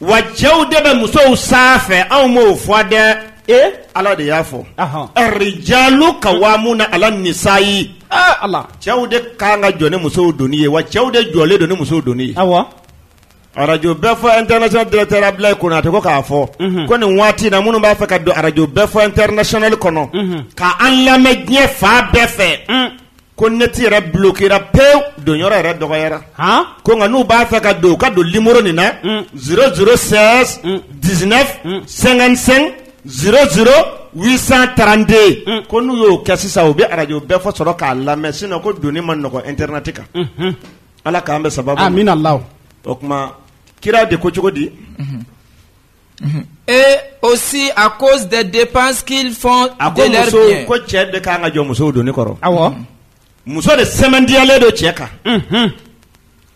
wa cɛw de bɛ musow sanfɛ anw m'o fɔ dɛ e ala de y'a fɔ rijalu kawamuna ala nisayi ala cɛw de ka kan ka jɔ ni musow doni ye wa cɛw de jɔlen don ni musow doni ye aw arajo bɛɛ fɔ international directeur Abdoulaye Konate ko k'a fɔ mhm. ko nin waati in na minnu b'a fɛ ka don arajo bɛɛ fɔ international kɔnɔ mhm. ka an lamɛn diɲɛ fan bɛɛ fɛ mm. ko neti yɛrɛ bloquéra pewu don yɔrɔ yɛrɛ dɔgɔyara ko nka n'u b'a fɛ ka don ka don limɔrɔ nin na mm. zéro zéro seize dix-neuf cinquante-cinq zéro zéro huit cent trente-deux mm. ko n'u y'o kɛ sisan u bɛ arajo bɛɛ fɔ sɔrɔ k'a lamɛn sinon ko donni man nɔgɔ internet kan mm-hmm. ala k'an bɛn sababu amiina ala o kuma kira de ko cogo di mm-hmm. Et aussi à cause des dépenses qu'ils font a ko de leurs biens. ko cɛ de kan ka jɔ musow doni kɔrɔ Awɔ. muso de sɛmɛndiyalen don cɛ kan Unhun.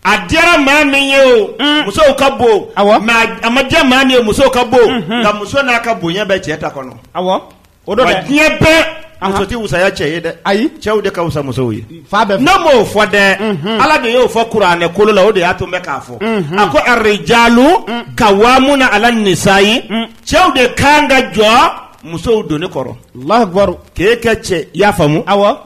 a diyara maa min ye o musow ka bon Awɔ. mais a- a ma diya maa min ye musow ka bon nka muso n'a ka bonya bɛ cɛ ta kɔnɔ Awɔ. O don dɛ. diɲɛ bɛɛ Ahan. muso tɛ wusaya cɛ ye dɛ Ayi. cɛw de ka wusa musow ye Fan bɛɛ fɛ. ne m'o fɔ dɛ Unhun. ala de y'o fɔ kuranɛ kolo la o de y'a to n bɛ k'a fɔ Unhun. a ko arijalu kawamuna ala nisayi cɛw de kan ka jɔ musow doni kɔrɔ Allahu akibaru. k'e kɛ cɛ i y'a faamu Awɔ.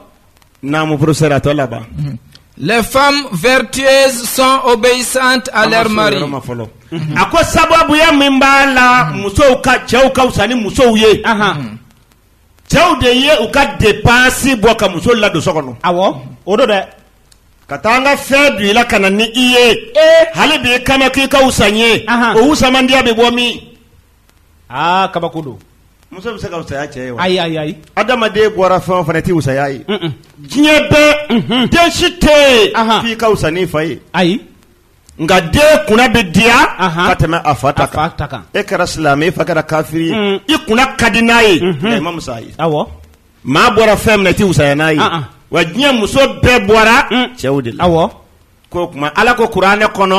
Naamu professeur a tɔ laban. Mhm. Les femmes vertueuses sont obéissantes à leur mari. Mhm. A ko sababuya min b'a la mhm. musow ka cɛw ka wusa ni musow ye. Cɛw de ye u ka dépense bɔ ka muso ladon so kɔnɔ. Awɔ o don dɛ. ka taa n ka fɛn don i la ka na ni i ye eh. hali bi i kama k'i ka wusa n ye o wusamandiya bɛ bɔ min aa kabako don, muso bɛ se ka wusaya cɛ ye wa? Ayi ayi ayi, adamaden bɔra fɛn o fɛn na i tɛ wusaya a ye, un un, diɲɛ bɛɛ, unhun, den si tɛ yen, anhan, f'i ka wusa n'i fa ye, ayi, nka den kunna bɛ diya, anhan, ka tɛmɛ a fa ta kan, a fa ta kan, e kɛra silamɛ ye i fa kɛra kafiri ye, un, i kunna ka di n'a ye, unhun, nka i man wusa a ye, awɔ, maa bɔra fɛn min na i tɛ wusaya n'a ye, an an, wa diɲɛ muso bɛɛ bɔra cɛw de la, awɔ. k'o kuma ala ko kuranɛ kɔnɔ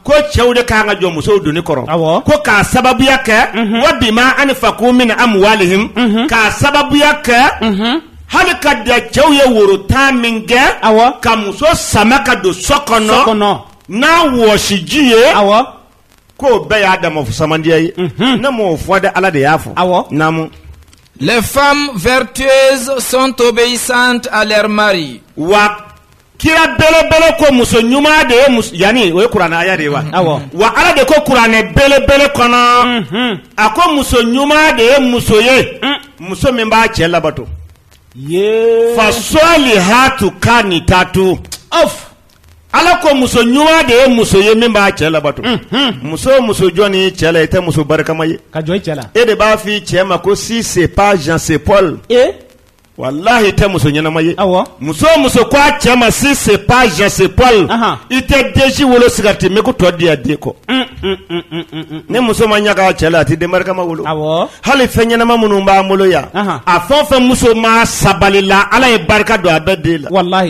ko cɛw de kan ka jɔ musow doni kɔrɔ ko k'a sababuya kɛ wa bima anfaku min amwalihim k'a sababuya kɛ hali ka da cɛw ye woro tan min kɛ ka muso sama ka don so kɔnɔ n'a wɔsiji ye k'o bɛɛ y'a dama wusamandiya ye ne m'o fɔ de ala de y'a fɔ naamu les femmes vertueuses sont obéissantes à leur mari wa kira belebele ko muso ɲuman de ye muso yanni o ye kuranɛ haya de ye wa mm-hmm. awɔ wa ala de ko kuranɛ belebele kɔnɔ mm-hmm. a ko muso ɲuman de ye muso ye mm. muso min b'a cɛ labato fasalihatu kanitatu ala ko muso ɲuman de ye muso ye min b'a cɛ labato mm-hmm. muso o muso jɔnin i cɛ la i tɛ muso barikama ye ka jɔ i cɛ la e de b'a f'i cɛ ma ko si c'est pas Jean c'est Paul e walayi i tɛ muso ɲɛnama ye awɔ muso o muso ko a cɛ ma si c'est pas Jean c'est Paul i tɛ den si wolo sigarɛti min k'o tɔ di yan den kɔ ni muso ma ɲaga cɛ la a tɛ den barikama wolo hali fɛn ɲɛnama minnu b'an bolo yan a fɛn o fɛn musoman sabalila ala ye barika don a bɛɛ den la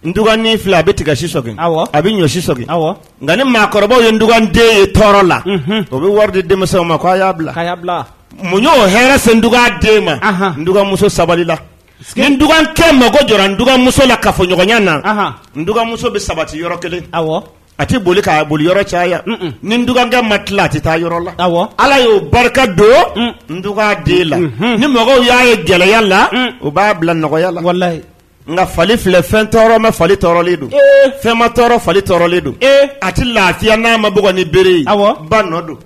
ndugani filɛ a bɛ tiga si sɔgin Awɔ. a bɛ ɲɔ si sɔgin Awɔ. nka ni maakɔrɔbaw ye nduganden ye tɔɔrɔ la Unhun. o bɛ wari di denmisɛnw ma ko a y'a bila k'a y'a bila mun y'o hɛrɛ se nduganden ma Ahan. nduganmuso sabalila ni ndugankɛ mago jɔra nduganmuso la kafoɲɔgɔnya na Ahan. nduganmuso bɛ sabati yɔrɔ kelen awɔ a tɛ boli k'a boli yɔrɔ caya Mm-mm. ni ndugankɛ ma tila a tɛ taa yɔrɔ la Awɔ. ala y'o barika don Mm. nduganden la Mhm. ni mɔgɔw y'a ye gɛlɛya la Mm. u b'a bila nɔgɔya la walayi nka fali filɛ fɛn tɔɔrɔ ma fali tɔɔrɔlen don fɛn ma tɔɔrɔ fali tɔɔrɔlen don a tɛ lafiya n'a ma bugɔ ni bere ye ba nɔ don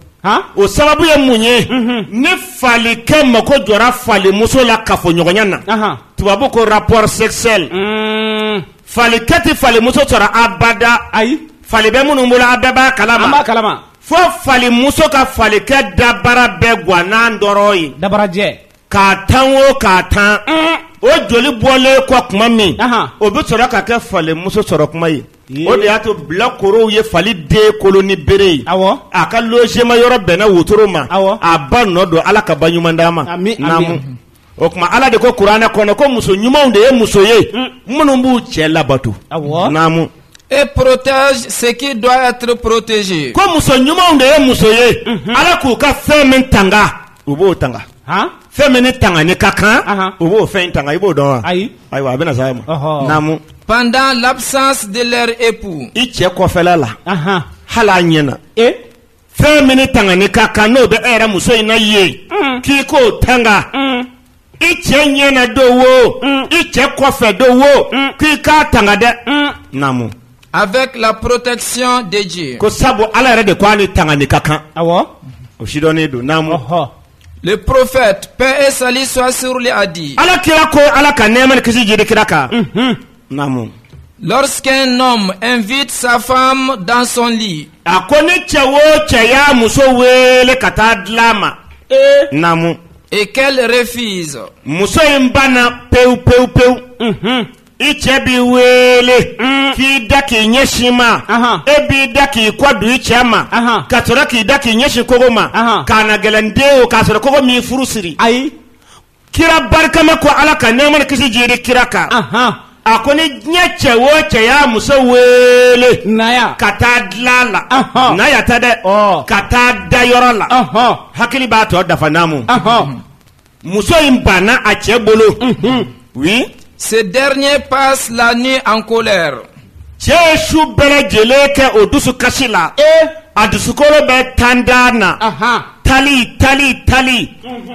o sababu ye mun ye ni falikɛ mako jɔra falimuso la kafoɲɔgɔnya na tubabu ko rapport sexuel mm. falikɛ tɛ falimuso sɔrɔ abada ayi fali bɛ minnu bolo a bɛɛ b'a kalama an b'a kalama fo falimuso ka falikɛ dabara bɛɛ gan n'a tɔrɔn ye dabarajɛ k'a tan o k'a tan o joli bɔlen kɔ kuma min o bɛ sɔrɔ ka kɛ falimuso sɔrɔ kuma ye o de y'a to bilakorow ye fali den kolo ni bere ye a ka logement yɔrɔ bɛnna wotoro ma a ba nɔ don ala ka ba ɲuman d'a ma o tuma ala de ko kuranɛ kɔnɔ ko muso ɲumanw de ye muso ye minnu b'u cɛ labato naamu et protègent ce qui doit être protégé ko muso ɲumanw de ye muso ye ala k'u ka fɛn min tanga U b'o tanga fɛn min ni tangani ka kan u b'o fɛn in tanga i b'o dɔn wa ayi ayiwa a bɛna se a ma naamu pendant l'absence de leur époux i cɛ kɔfɛla la hali a ɲɛna e fɛn min ni tangani ka kan n'o bɛ e yɛrɛ muso in na ye k'i k'o tanga i cɛ ɲɛ na don wo i cɛ kɔfɛ don wo k'i k'a tanga dɛ naamu Avec la protection de Dieu. ko sabu ala yɛrɛ de ko a ni tangani ka kan awɔ o sidɔnnen don naamu ɔhɔ Le prophète, paix et salut soit sur lui, a dit ala kira ko ala ka nɛɛma ni kisi jigi kira kan naamu lorsqu'un homme invite sa femme dans son lit a ko ni cɛ o cɛ y'a muso weele ka taa dilan ma ee naamu et qu'elle refuse muso in banna pewu pewu pewu mhm. i cɛ b'i weele mm. k'i da k'i ɲɛsin ma e b'i da k'i kɔ don i cɛ ma ka sɔrɔ k'i da k'i ɲɛsin kogo ma k'a na gɛlɛn den o k'a sɔrɔ kogo m'i furu siri ayi kira barikama ko ala ka nɛɛma ni kisi jiidi kira kan Ahan. a ko ni diɲɛ cɛ o cɛ y'a muso weele Naya. ka taa dilan la Ahan. na yata dɛ Ɔ. ka taa da yɔrɔ la Ahan. hakili b'a tɔ dafa naamu Ahan. muso in banna a cɛ bolo oui Ce dernier passe la nuit en colère. cɛ ye su bɛɛ lajɛlen kɛ o dusu kasi la ee a dusukolo bɛ tan da na ahan tali tali tali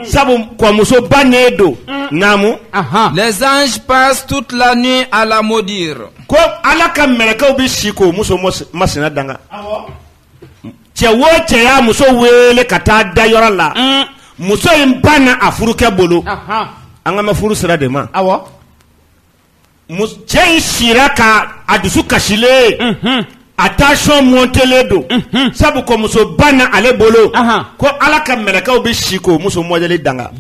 sabu ko muso bannen don naamu ahan Les anges passent toute la nuit à la maudire. ko ala ka mɛlɛkɛw bɛ si k'o muso mos- masina danga cɛ wo cɛ y'a muso weele ka taa da yɔrɔ la muso in banna a furukɛ bolo ahan an kan bɛ furu sira de ma awɔ cɛ in sira ka a dusu kasilen a tension montelen don sabu ko muso banna ale bolo ko ala ka mɛlɛkɛw bɛ si k'o muso mɔdɛli danga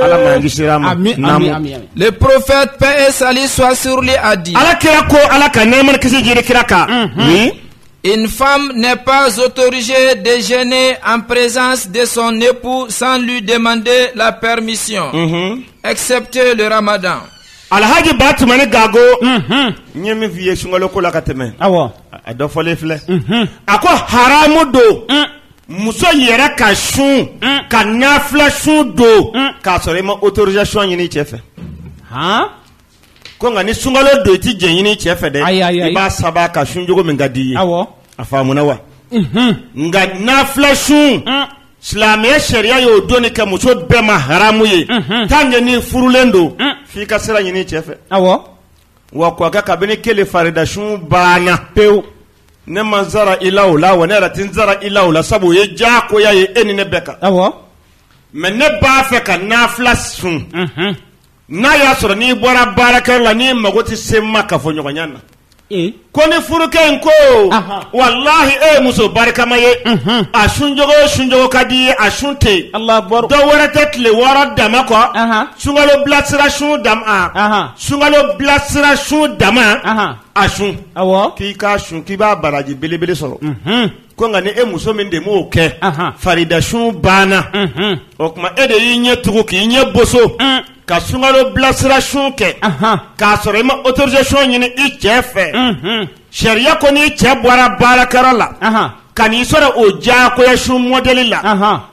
ala le prophète paix et salut soit sur lui a dit ala kira ko ala ka nɛɛma ni kisi jiri kira kan Une femme n'est pas autorisée de jeûner en présence de son époux sans lui demander la permission, mhm. excepté le ramadan. Alhaji Batumani Gago, mhm. n ye min f'i ye sunkalo ko la ka tɛmɛ, awɔ, a dɔ fɔlen filɛ, mhm. a ko haramu don, mm. muso yɛrɛ ka sun, mm. ka nafila sun don, mm. k'a sɔrɔ i ma autorisation ɲini i cɛ fɛ. ko nka ni sunkalo don i tɛ jɛn ɲini i cɛ fɛ dɛ Ayi, ayi, ayi. i b'a saba ka sun cogo min ka di i ye awɔ a faamuna wa nka nafila sun silamɛya sariya y'o donni kɛ muso bɛɛ ma haramu ye tant que ni furulen don f'i ka sira ɲini i cɛ fɛ awɔ wa k'a kɛ kabini kele farida sun banna pewu ne ma n sara i la o la wa ne yɛrɛ tɛ n sara i la o la sabu o ye diyagoya ye e ni ne bɛɛ kan awɔ mais ne b'a fɛ ka nafila sun N'a y'a sɔrɔ n'i bɔra baarakɛyɔrɔ la n'i mago tɛ se n ma kafoɲɔgɔnya na ko ni furukɛ in ko wallahi e ye muso barikama ye a sun cogo sun cogo ka di i ye a sun tɛ dɔ wɛrɛ tɛ tile wɔɔrɔ dama kɔ sunkalo bilasira sun dama sunkalo bilasira sun dama a sun k'i k'a sun k'i b'a baraji belebele sɔrɔ ko nka ni e muso min de m'o kɛ faridasun banna o tuma e de y'i ɲɛ tugu k'i ɲɛ boso ka sungalo bilasira sun kɛ k'a sɔrɔ i ma autorisation ɲini i cɛ fɛ sariya ko n'i cɛ bɔra baarakɛyɔrɔ la ka n'i sɔrɔ o diyagoya sun mɔdɛli la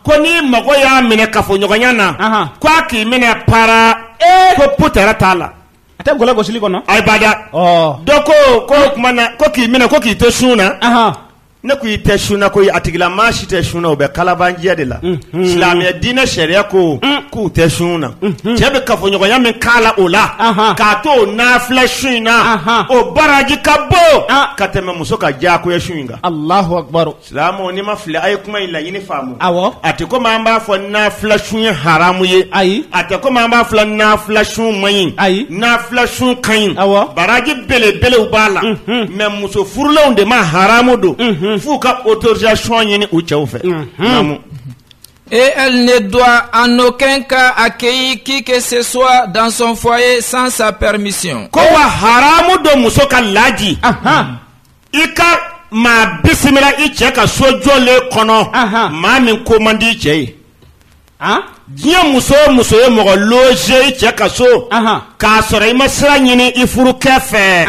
ko ni mago y'a minɛ kafoɲɔgɔnya na ko a k'i minɛ para ko peut-être t'a la a tɛ gɔlɛ gosili kɔnɔ ayi abada dɔ ko ko kuma na ko k'i minɛ ko k'i to sun na ne ko i tɛ sun na ko a tigila maa si tɛ sun na o bɛ kalabanciya de la silamɛya diinɛ sariya ko k'u tɛ sun na cɛ bɛ kafoɲɔgɔnya min k'a la o la k'a to o nafila sun in na o baraji ka bon ka tɛmɛ muso ka diyagoya sun in kan Silamɛw ni n ma fili a ye kuma in laɲini faamu, awɔ, a tɛ komi an b'a fɔ nafila sun ye haramu ye, ayi, a tɛ komi an b'a fɔ nafila sun man ɲi, ayi, nafila sun ka ɲi, awɔ, baraji belebelew b'a la, unhun, mais muso furulenw de ma haramu don, unhun, f'u ka autorisation ɲini u cɛw fɛ, unhun. Et elle ne doit en aucun cas accueillir qui que ce soit dans son foyer sans sa permission. Ko wa haramu don muso ka laji, anhan. i ka maa bisimila i cɛ ka so jɔlen kɔnɔ maa min ko man di i cɛ ye diɲɛ muso o muso ye mɔgɔ logé i cɛ ka so k'a sɔrɔ i ma sira ɲini i furukɛ fɛ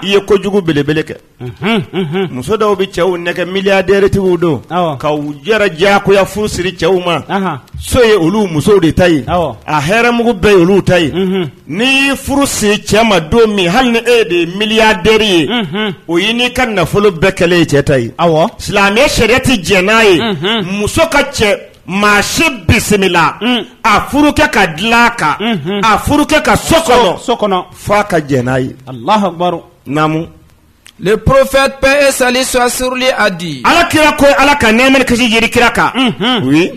i ye kojugu belebele kɛ muso dɔw bɛ cɛw nɛgɛn milliardaire tigiw don ka u yɛrɛ diyagoya furu siri cɛw ma so ye olu musow de ta ye a hɛrɛmugu bɛɛ ye olu ta ye N'i y'i furu siri cɛ ma don min hali ni e de ye milliardaire ye o y'i n'i ka nafolo bɛɛ kɛlen ye cɛ ta ye silamɛya sariya tɛ jɛn n'a ye muso ka cɛ maa si bisimila a furukɛ ka dilan kan a furukɛ ka so kɔnɔ f'a ka jɛn n'a ye Alahu akibaru naamu. Le prophète paix et salut soit sur lui a dit Ala kira ko Ala ka nɛɛma ni kisi jiidi kira kan oui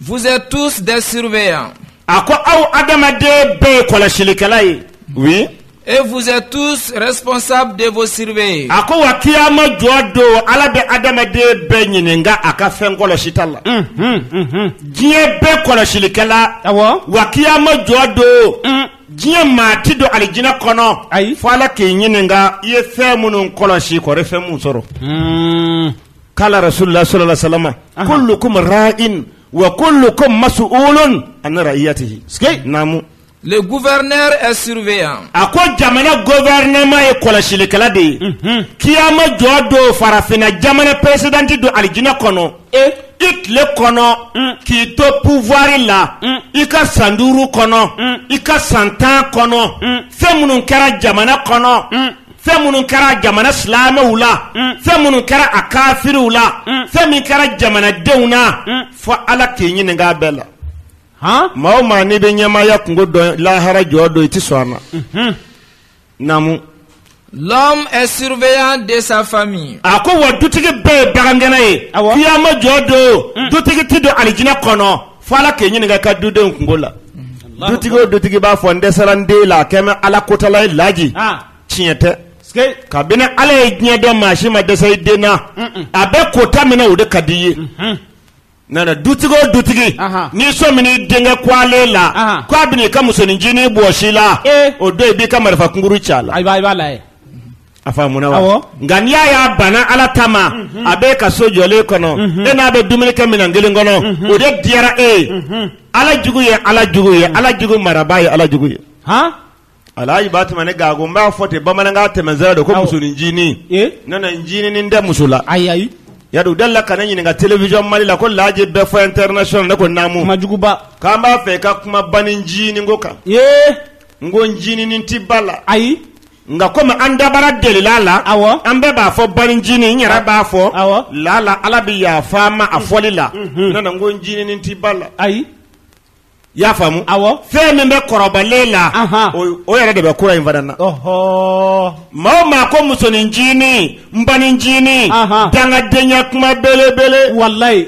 Vous êtes tous des surveillants. A ko aw adamaden bɛɛ ye kɔlɔsilikɛla ye. Oui. Et vous êtes tous responsables de vos surveillés. A ko wa kiyama jɔ don Ala bɛ adamaden bɛɛ ɲininka a ka fɛn kɔlɔsita la. Unhun unhun. Diɲɛ bɛɛ kɔlɔsilikɛla. Awɔ. Wa kiyama jɔ don. Un. Diɲɛ maa ti don alijinɛ kɔnɔ. Ayi. Fo Ala k'i ɲininka i ye fɛn minnu kɔlɔsi kɔri fɛn mun sɔrɔ. Uun. kala rasulullah sallallahu alaihi wasallam kullukum ra'in wa kullukum mas'ulun an ra'iyatihi naamu Le gouverneur est surveillant a ko jamana gouvernement ye kɔlɔsilikɛla de ye kiyama jɔ don farafinna jamana président ti don alijinɛ kɔnɔ e i tile kɔnɔ k'i to pouvoir la i ka san duuru kɔnɔ i ka san tan kɔnɔ fɛn minnu kɛra jamana kɔnɔ fɛn minnu kɛra jamana silamɛw la fɛn minnu kɛra a kafiriw la fɛn min kɛra jamanadenw na fo ala k'i ɲininka a bɛɛ la han maa o maa n'i bɛ ɲɛmaaya kunko dɔn lahara jɔ don i tɛ sɔn a ma naamu L'homme est surveillant de sa famille. a ko wa dutigi bɛɛ ye bagangɛnna ye Awɔ. kiyama jɔ don dutigi ti don alijinɛ kɔnɔ fo ala k'i ɲininka ka dudenw kungo la dutigi o dutigi b'a fɔ n dɛsɛra n den la a kɛmɛ ala kotala ye laji tiɲɛ tɛ kabini ala ye diɲɛ dan maa si ma dɛsɛ i den na a bɛ kota min na o de ka di i ye nana dutigi o dutigi n'i sɔmina i denkɛ kɛwale la k'a bɛna i ka musoninncinin bɔsi i la o don i b'i ka marifa kunkuru ci a la A faamuna wa nka n'i y'a y'a banna ala ta ma a b'i ka so jɔlen kɔnɔ e n'a bɛ dumuni kɛ minɛn kelen kɔnɔ o de diyara e ye ala jugu ye ala jugu ye ala jugu marabaa ye ala jugu ye alaji ba tɛmɛ ne ga n b'a fɔ ten bamanankan tɛmɛsira don ko musoninncinin ne na ncinin tɛ muso la ayi ayi ya u dala la ka ne ɲininka télévision mali la ko laji bɛɛ fɔ international ne ko naamu kuma juguba k'an b'a fɛ i ka kuma banincinin ko kan n ko ncinin tɛ ba la ayi nka komi an dabara delila la awɔ an bɛɛ b'a fɔ banincinin n yɛrɛ b'a fɔ awɔ laala ala bɛ yafa n ma a fɔli la ne na n ko ncinin tɛ ba la ayi i y'a faamu awɔ fɛn min bɛ kɔrɔbalen la Ahan. o o yɛrɛ de bɛ kura in fana na ɔhɔ maa o maa ko musonin ncinin n banincinin Ahan. dangadenya kuma belebele walayi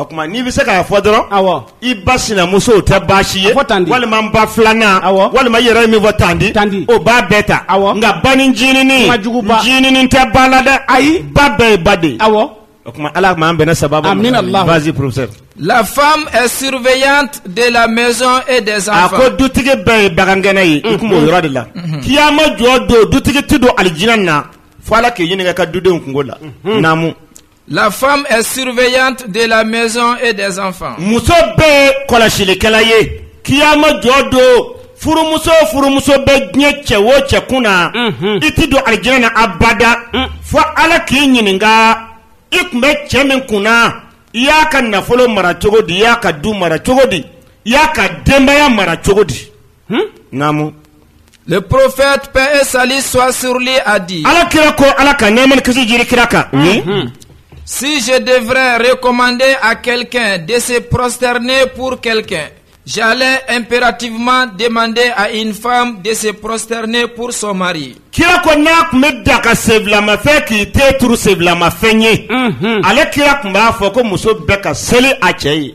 O tuma n'i bɛ se k'a fɔ dɔrɔn i ba sinamuso tɛ baasi ye walima n ba filanan walima i yɛrɛ ye min fɔ tanti tanti o b'a bɛɛ ta nka banincinin ncinin tɛ ba la dɛ ayi ba bɛɛ ye ba de ye awɔ o tuma ala ma an bɛn ne saba vas-y professeur la femme est surveillante de la maison et des a ko dutigi bɛɛ ye bagangɛnna ye i tun o yɔrɔ de la kiyama jɔ don dutigi tɛ don alijinɛ na fo ala k'i ɲininka ka dudenw kungo la naamu La femme est surveillante de la maison et des enfants. Muso bɛɛ kɔlɔsilikɛla ye kiyama jɔ don furumuso o furumuso bɛ diɲɛ cɛ o cɛ kun na mhm. i tɛ don alijinɛ na abada mm. fo Ala k'i ɲininka i tun bɛ cɛ min kun na i y'a ka nafolo mara cogo di i y'a ka du mara cogo di i y'a ka denbaya mara cogo di. naamu le prophète paix et salut soit sur lui a dit ala kira ko ala ka nɛɛma ni kisi jigi kira kan si je devrais recommander à quelqu'un de se prosterner pour quelqu'un j'allais impérativement demander à une femme de se prosterner pour son mari kira ko n'a tun bɛ daga senfilamafɛn k'i ten turu senfilamafɛn ye ale kira tun b'a fɔ ko muso bɛɛ ka seli a cɛ ye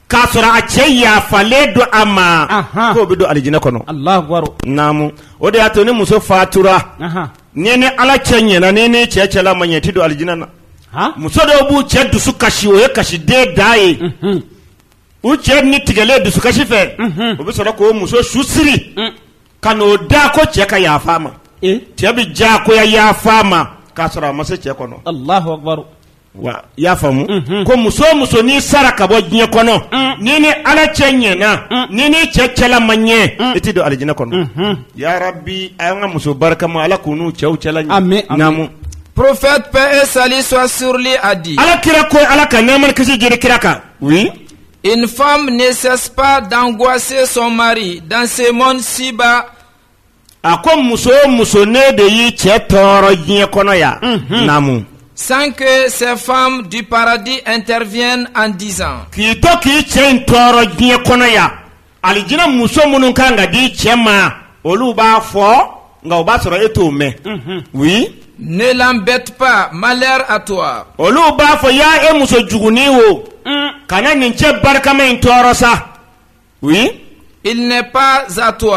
k'a sɔrɔ a cɛ yafalen don a ma Anhan. k'o bɛ don alijinɛ kɔnɔ alahu akibaru naamu o de y'a to ni muso fatura ahan n'i ni ala cɛ ɲɛna n'i ni cɛ cɛla ma ɲɛ i tɛ don alijinɛ na han muso dɔw b'u cɛ dusu kasi o ye kasi de dan ye Mhm. u cɛ ni tigɛlen dusukasi fɛ Mhm. o bɛ sɔrɔ k'o muso su siri Mm. ka n'o da ko cɛ ka yafa a ma e cɛ bɛ diyagoya yafa a ma k'a sɔrɔ a ma se cɛ kɔnɔ alahu akibaru wa i y'a faamu ko muso muso n'i sara ka bɔ diɲɛ kɔnɔ n'i ni ala cɛ ɲɛna n'i n'i cɛ cɛla ma ɲɛ i tɛ don alijinɛ kɔnɔ ya rabi a y'an ka muso barikama ala k'u n'u cɛw cɛla ɲɛ namu prophète paix et salut soit sur lui a dit ala kira ko ala ka nɛma ni kisi jiri kira kan oui une femme ne cesse pas d'angoisser son mari dans ce monde ici-bas a ko muso o muso n'e de y'i cɛ tɔɔrɔ diɲɛ kɔnɔ yan namu sans que ces femmes du paradis interviennent en disant k'i to k'i cɛ in tɔɔrɔ diɲɛ kɔnɔ yan alijina muso minnu kan ka di cɛ ma olu b'a fɔ nka o b'a sɔrɔ e t'o mɛn oui ne l'embête pas malheur à toi olu b'a fɔ ya e muso jugunin o kana nin cɛ barikama in tɔɔrɔ sa u ye ipzsaatɔ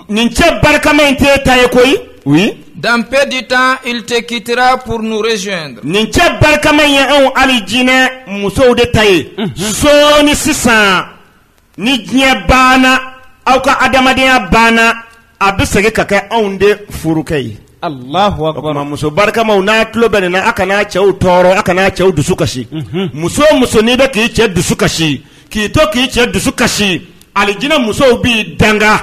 nin cɛ barikama in tɛ ta ye ko u ye danp di tan i tɛ kira purunurez nin cɛ barikama ye anw ali jinɛinɛ musow de ta ye son ni sisan ni diɲɛ banna aw ka adamadenyaya banna a bɛ segin ka kɛ anw de furukɛ ye alahu akibaru muso barikama n'a tulo bɛ ne na a kana cɛw tɔɔrɔ a kana cɛw dusu kasi muso muso n'i bɛ k'i cɛ dusu kasi k'i to k'i cɛ dusu kasi alijinɛ musow b'i danga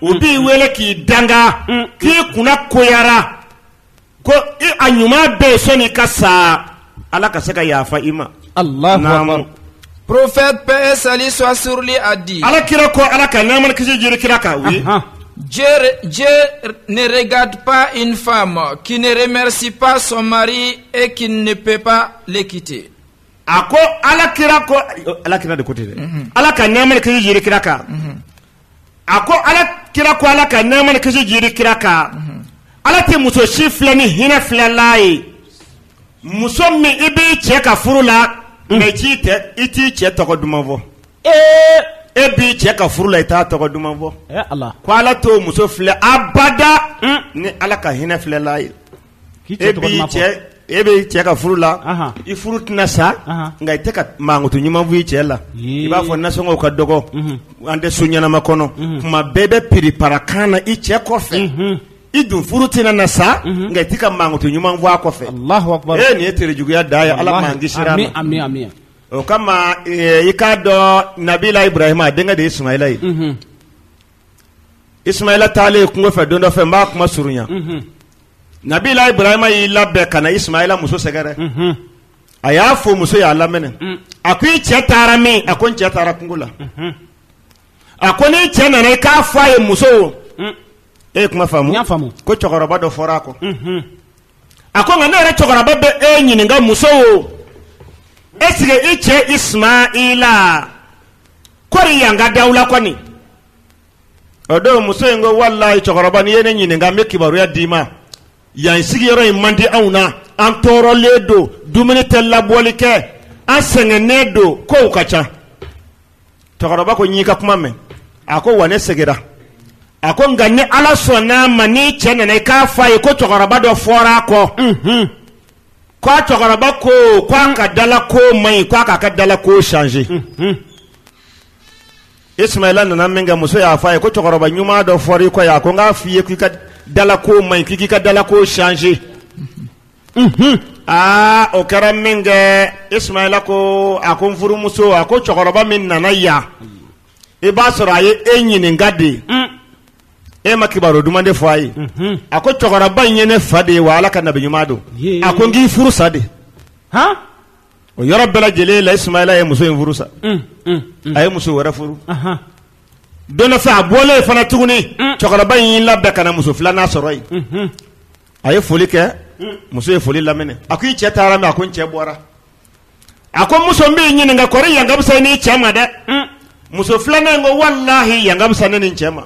u b'i wele k'i danga k'i kunnagoyara ko a ɲuman bɛ sɔn ka sa ala ka se ka yafa i ma porofɛ bɛɛ sali sɔ sli a di ala kira ko ala ka ɲa kisi jiri kira ka wuli neredip in fa ma k'ineremesi pa sɔmari e k ne pep kite a ko ala kira ko alaki de ko ten dɛ ala ka ɲa kisi jiri kira kan a ko ala kira ko ala ka nɛma ni kisi jiri kira kan ala tɛ muso si filɛ ni hinɛ filɛla ye muso min i b'i cɛ ka furu la merci tɛ i t'i cɛ tɔgɔ duman fɔ ee e b'i cɛ ka furu la i t'a tɔgɔ duman fɔ ko ala t'o muso filɛ abada ni ala ka hinɛ filɛla ye K'i cɛ tɔgɔ duman fɔ. E b'i cɛ e b'i cɛ ka furu la. Anhan. I furu tɛna sa. Anhan. Nka i tɛ ka mankutu ɲuman fɔ i cɛ la. Ee. I b'a fɔ nasɔngɔw ka dɔgɔ. Unhun. An tɛ so ɲɛnama kɔnɔ. Unhun. Tuma bɛɛ i bɛ piripara kan na i cɛ kɔfɛ. Unhun. I dun furu tɛna na sa. Unhun. Nka i tɛ ka mankutu ɲuman fɔ a kɔfɛ. Alahu akibaru. Ee nin ye terejuguya dan ye Ala m'an kisira. Ami ami ami. O kama ee i k'a dɔn Nabila Iburahima a denkɛ de ye Ismaila ye. Unhun. Ismaila taalen kungo fɛ don dɔ fɛ n b'a kuma surunya nabila Iburahima y'i labɛn ka na Ismaila muso sɛgɛrɛ a y'a fo muso y'a laminɛ a ko i cɛ taara min a ko n cɛ taara kungo la a ko n'i cɛ nana i k'a fɔ a ye muso e ye kuma faamu ko cɛkɔrɔba dɔ fɔra a kɔ a ko nka ne yɛrɛ cɛkɔrɔba bɛ e ɲininka muso o esike i cɛ ismaila kɔri yan ka d'aw la kɔni o don muso in ko walayi cɛkɔrɔba n'i ye ne ɲininka n bɛ kibaruya d'i ma yan sigiyɔrɔ in man di anw na an tɔɔrɔlen don dumuni tɛ labɔli kɛ an sɛgɛnnen don kow ka ca cɛkɔrɔba ko n y'i ka kuma mɛn a ko wa ne seginna a ko nka ni ala sɔnn'a ma n'i cɛ nana i k'a fɔ a ye ko cɛkɔrɔba dɔ fɔra a kɔ ko a cɛkɔrɔba ko ko a ka dala ko man ɲi ko a k'a ka dala ko changer ismaila nana min kɛ muso y'a fɔ a ye ko cɛkɔrɔba ɲuman dɔ fɔra i kɔ yan a ko n k'a f'i ye k'i ka dala ko man ɲi k'i k'i ka dala ko changer aa o kɛra min kɛ ismaila ko a ko n furumuso a ko cɛkɔrɔba min nana yan i b'a sɔrɔ a ye e ɲininka de e ma kibaru duman de fɔ a ye a ko cɛkɔrɔba in ye ne fa de ye wa ala ka nabi ɲuman don a ko n k'i furu sa de o yɔrɔ bɛɛ lajɛlen la ismaila ye muso in furu sa a ye muso wɛrɛ furu don a fɛ a bɔlen fana tuguni cɛkɔrɔba in y'i labɛn ka na muso filanan sɔrɔ yen a ye foli kɛ muso ye foli laminɛ a ko i cɛ taara min a ko n cɛ bɔra a ko muso n b'i ɲininka kɔri yan ka fisa n'i cɛ ma dɛ muso filanan in ko walahi yan ka fisa ne ni cɛ ma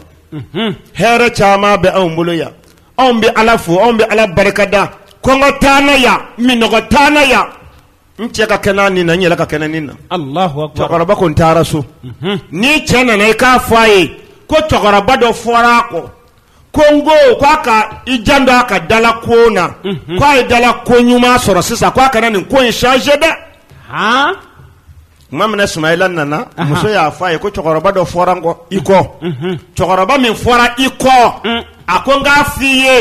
hɛrɛ caman bɛ anw bolo yan anw bɛ ala fo anw bɛ ala barika da kɔngɔ t'an na yan minnɔgɔ t'an na yan n cɛ ka kɛnɛ ni na n yɛrɛ ka kɛnɛ ni na cɛkɔrɔba ko n taara so n'i cɛ nana i k'a fɔ a ye ko cɛkɔrɔba dɔ fɔra a kɔ ko n ko k'a ka i janto a ka dala ko na k' a ye dala ko ɲuman sɔrɔ sisan k'a kana nin ko in changer dɛ tuma min na sumayila nana muso y'a fɔ a ye ko cɛkɔrɔba dɔ fɔra n kɔ i kɔ cɛkɔrɔba min fɔra i kɔ a ko n k'a f' i ye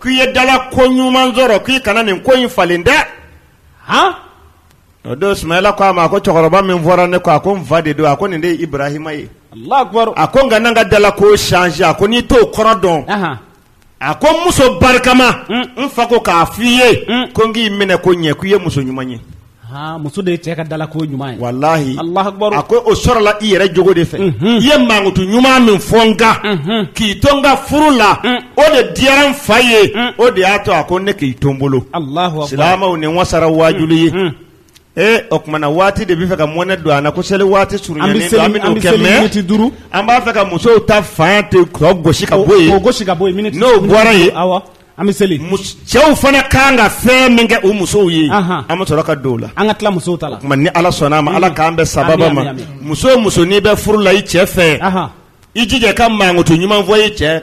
k'i ye dala ko ɲuman sɔrɔ k'i kana nin ko in falen dɛ O don Sumayila ko a ma ko cɛkɔrɔba min fɔra ne kɔ a ko n fa de don a ko nin de ye Ibrahima ye Alahu akibaru a ko n kana n ka dalako changer a ko n'i t'o kɔrɔ dɔn Anhan a ko n muso barikama n fa ko k'a f'i ye ko n k'i minɛ ko ɲɛ k'i ye muso ɲuman ye haa muso de ye cɛ ka dalako ɲuman ye walahi Alahu akibaru a ko o sɔrɔla i yɛrɛ jogo de fɛ i ye mankutu ɲuman min fɔ n kan k'i to n ka furu la o de diyara n fa ye o de y'a to a ko ne k'i to n bolo silamɛw nin wasara waajuli ye ee o tuma na waati de bɛ fɛ ka mɔnɛ don an na ko seli waati surunyalen don an bɛn'o kɛ mais an b'a fɛ ka musow ta fan to tɔ gosi ka bɔ yen miniti n'o bɔra yen awɔ an bɛ seli cɛw fana kan ka fɛn min kɛ u musow ye an bɛ sɔrɔ ka don o la an ka tila musow ta la o tuma ni Ala sɔnn'a ma Ala k'an bɛn sababa ma muso o muso n'i bɛ furu la i cɛ fɛ i jija ka mankutu ɲuman fɔ ye cɛ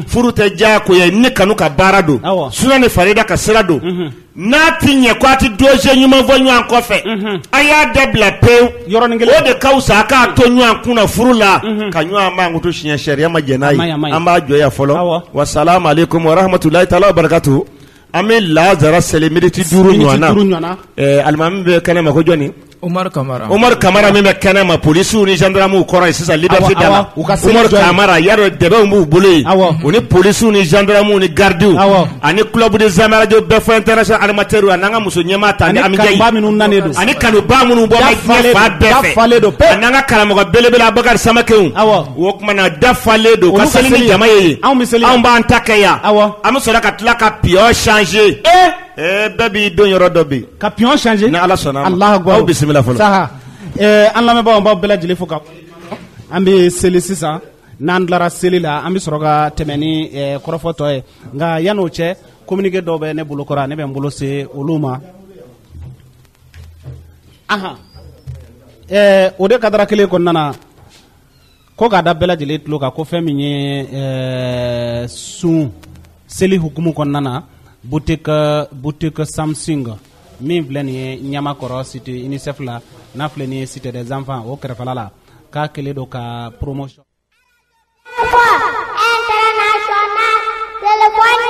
furu tɛ diya ko ye ne kanu ka baara don suna ni farida ka sira don n'a tɛ ɲɛ ko a tɛ dɔjɛ ɲuman fɔ ɲɔgɔn kɔfɛ a y'a dabila pewu yɔrɔnin kelen o de ka wusa a ka to ɲɔgɔn kun na furu la ka ɲɔgɔn mankutu tiɲɛ sariya ma jɛn n'a ye an b'a jɔ yan fɔlɔ wasalamu alayikumu warahamatulayi taala wabarikatu An bɛ lasara seli miniti duuru alimami bɛ kɛnɛ ma ko jɔnni Umaru kamara min bɛ kɛnɛ ma polisiw ni zandaramuw kɔrɔ ye sisan liberté da la Umaru kamara y'a dɔn dɛbɛw b'u bolo u ni polisiw ni zandaramuw ni garidiw ani club des amis radio bɛɛ fo international animateur ani an ka muso ɲɛmaa tanti Ami Jayi ani kanubaa minnu bɔ fan bɛɛ fɛ ani an ka karamɔgɔ belebele Abakari Samakɛ O tuma na dafalen don ka seli ni jama ye anw bɛ seli anw b'an ta kɛ yan an bɛ sɔrɔ ka tila ka pion changer ee bɛɛ b'i don yɔrɔ dɔ bi ka pion changer ni ala sɔnna an la aw bisimila fɔlɔ sa an lamɛnbaa baw bɛɛ lajɛlen fo ka an bɛ seli sisan n'an tilara seli la an bɛ sɔrɔ ka tɛmɛ ni kɔrɔfɔ tɔ ye nka yan n'o cɛ kominike dɔw bɛ ne bolo kɔrɔ ne bɛ n bolo se olu ma o de cadre kelen kɔnɔna na ko k'a da bɛɛ lajɛlen tulo kan ko fɛn min ye eh, sun seli hukumu kɔnɔna na boutique boutique samsung min filɛ nin ye ɲamakɔrɔ cité unicef la n'a filɛ nin ye cité des enfants o kɛrɛfɛla la k'a kɛlen don ka promotion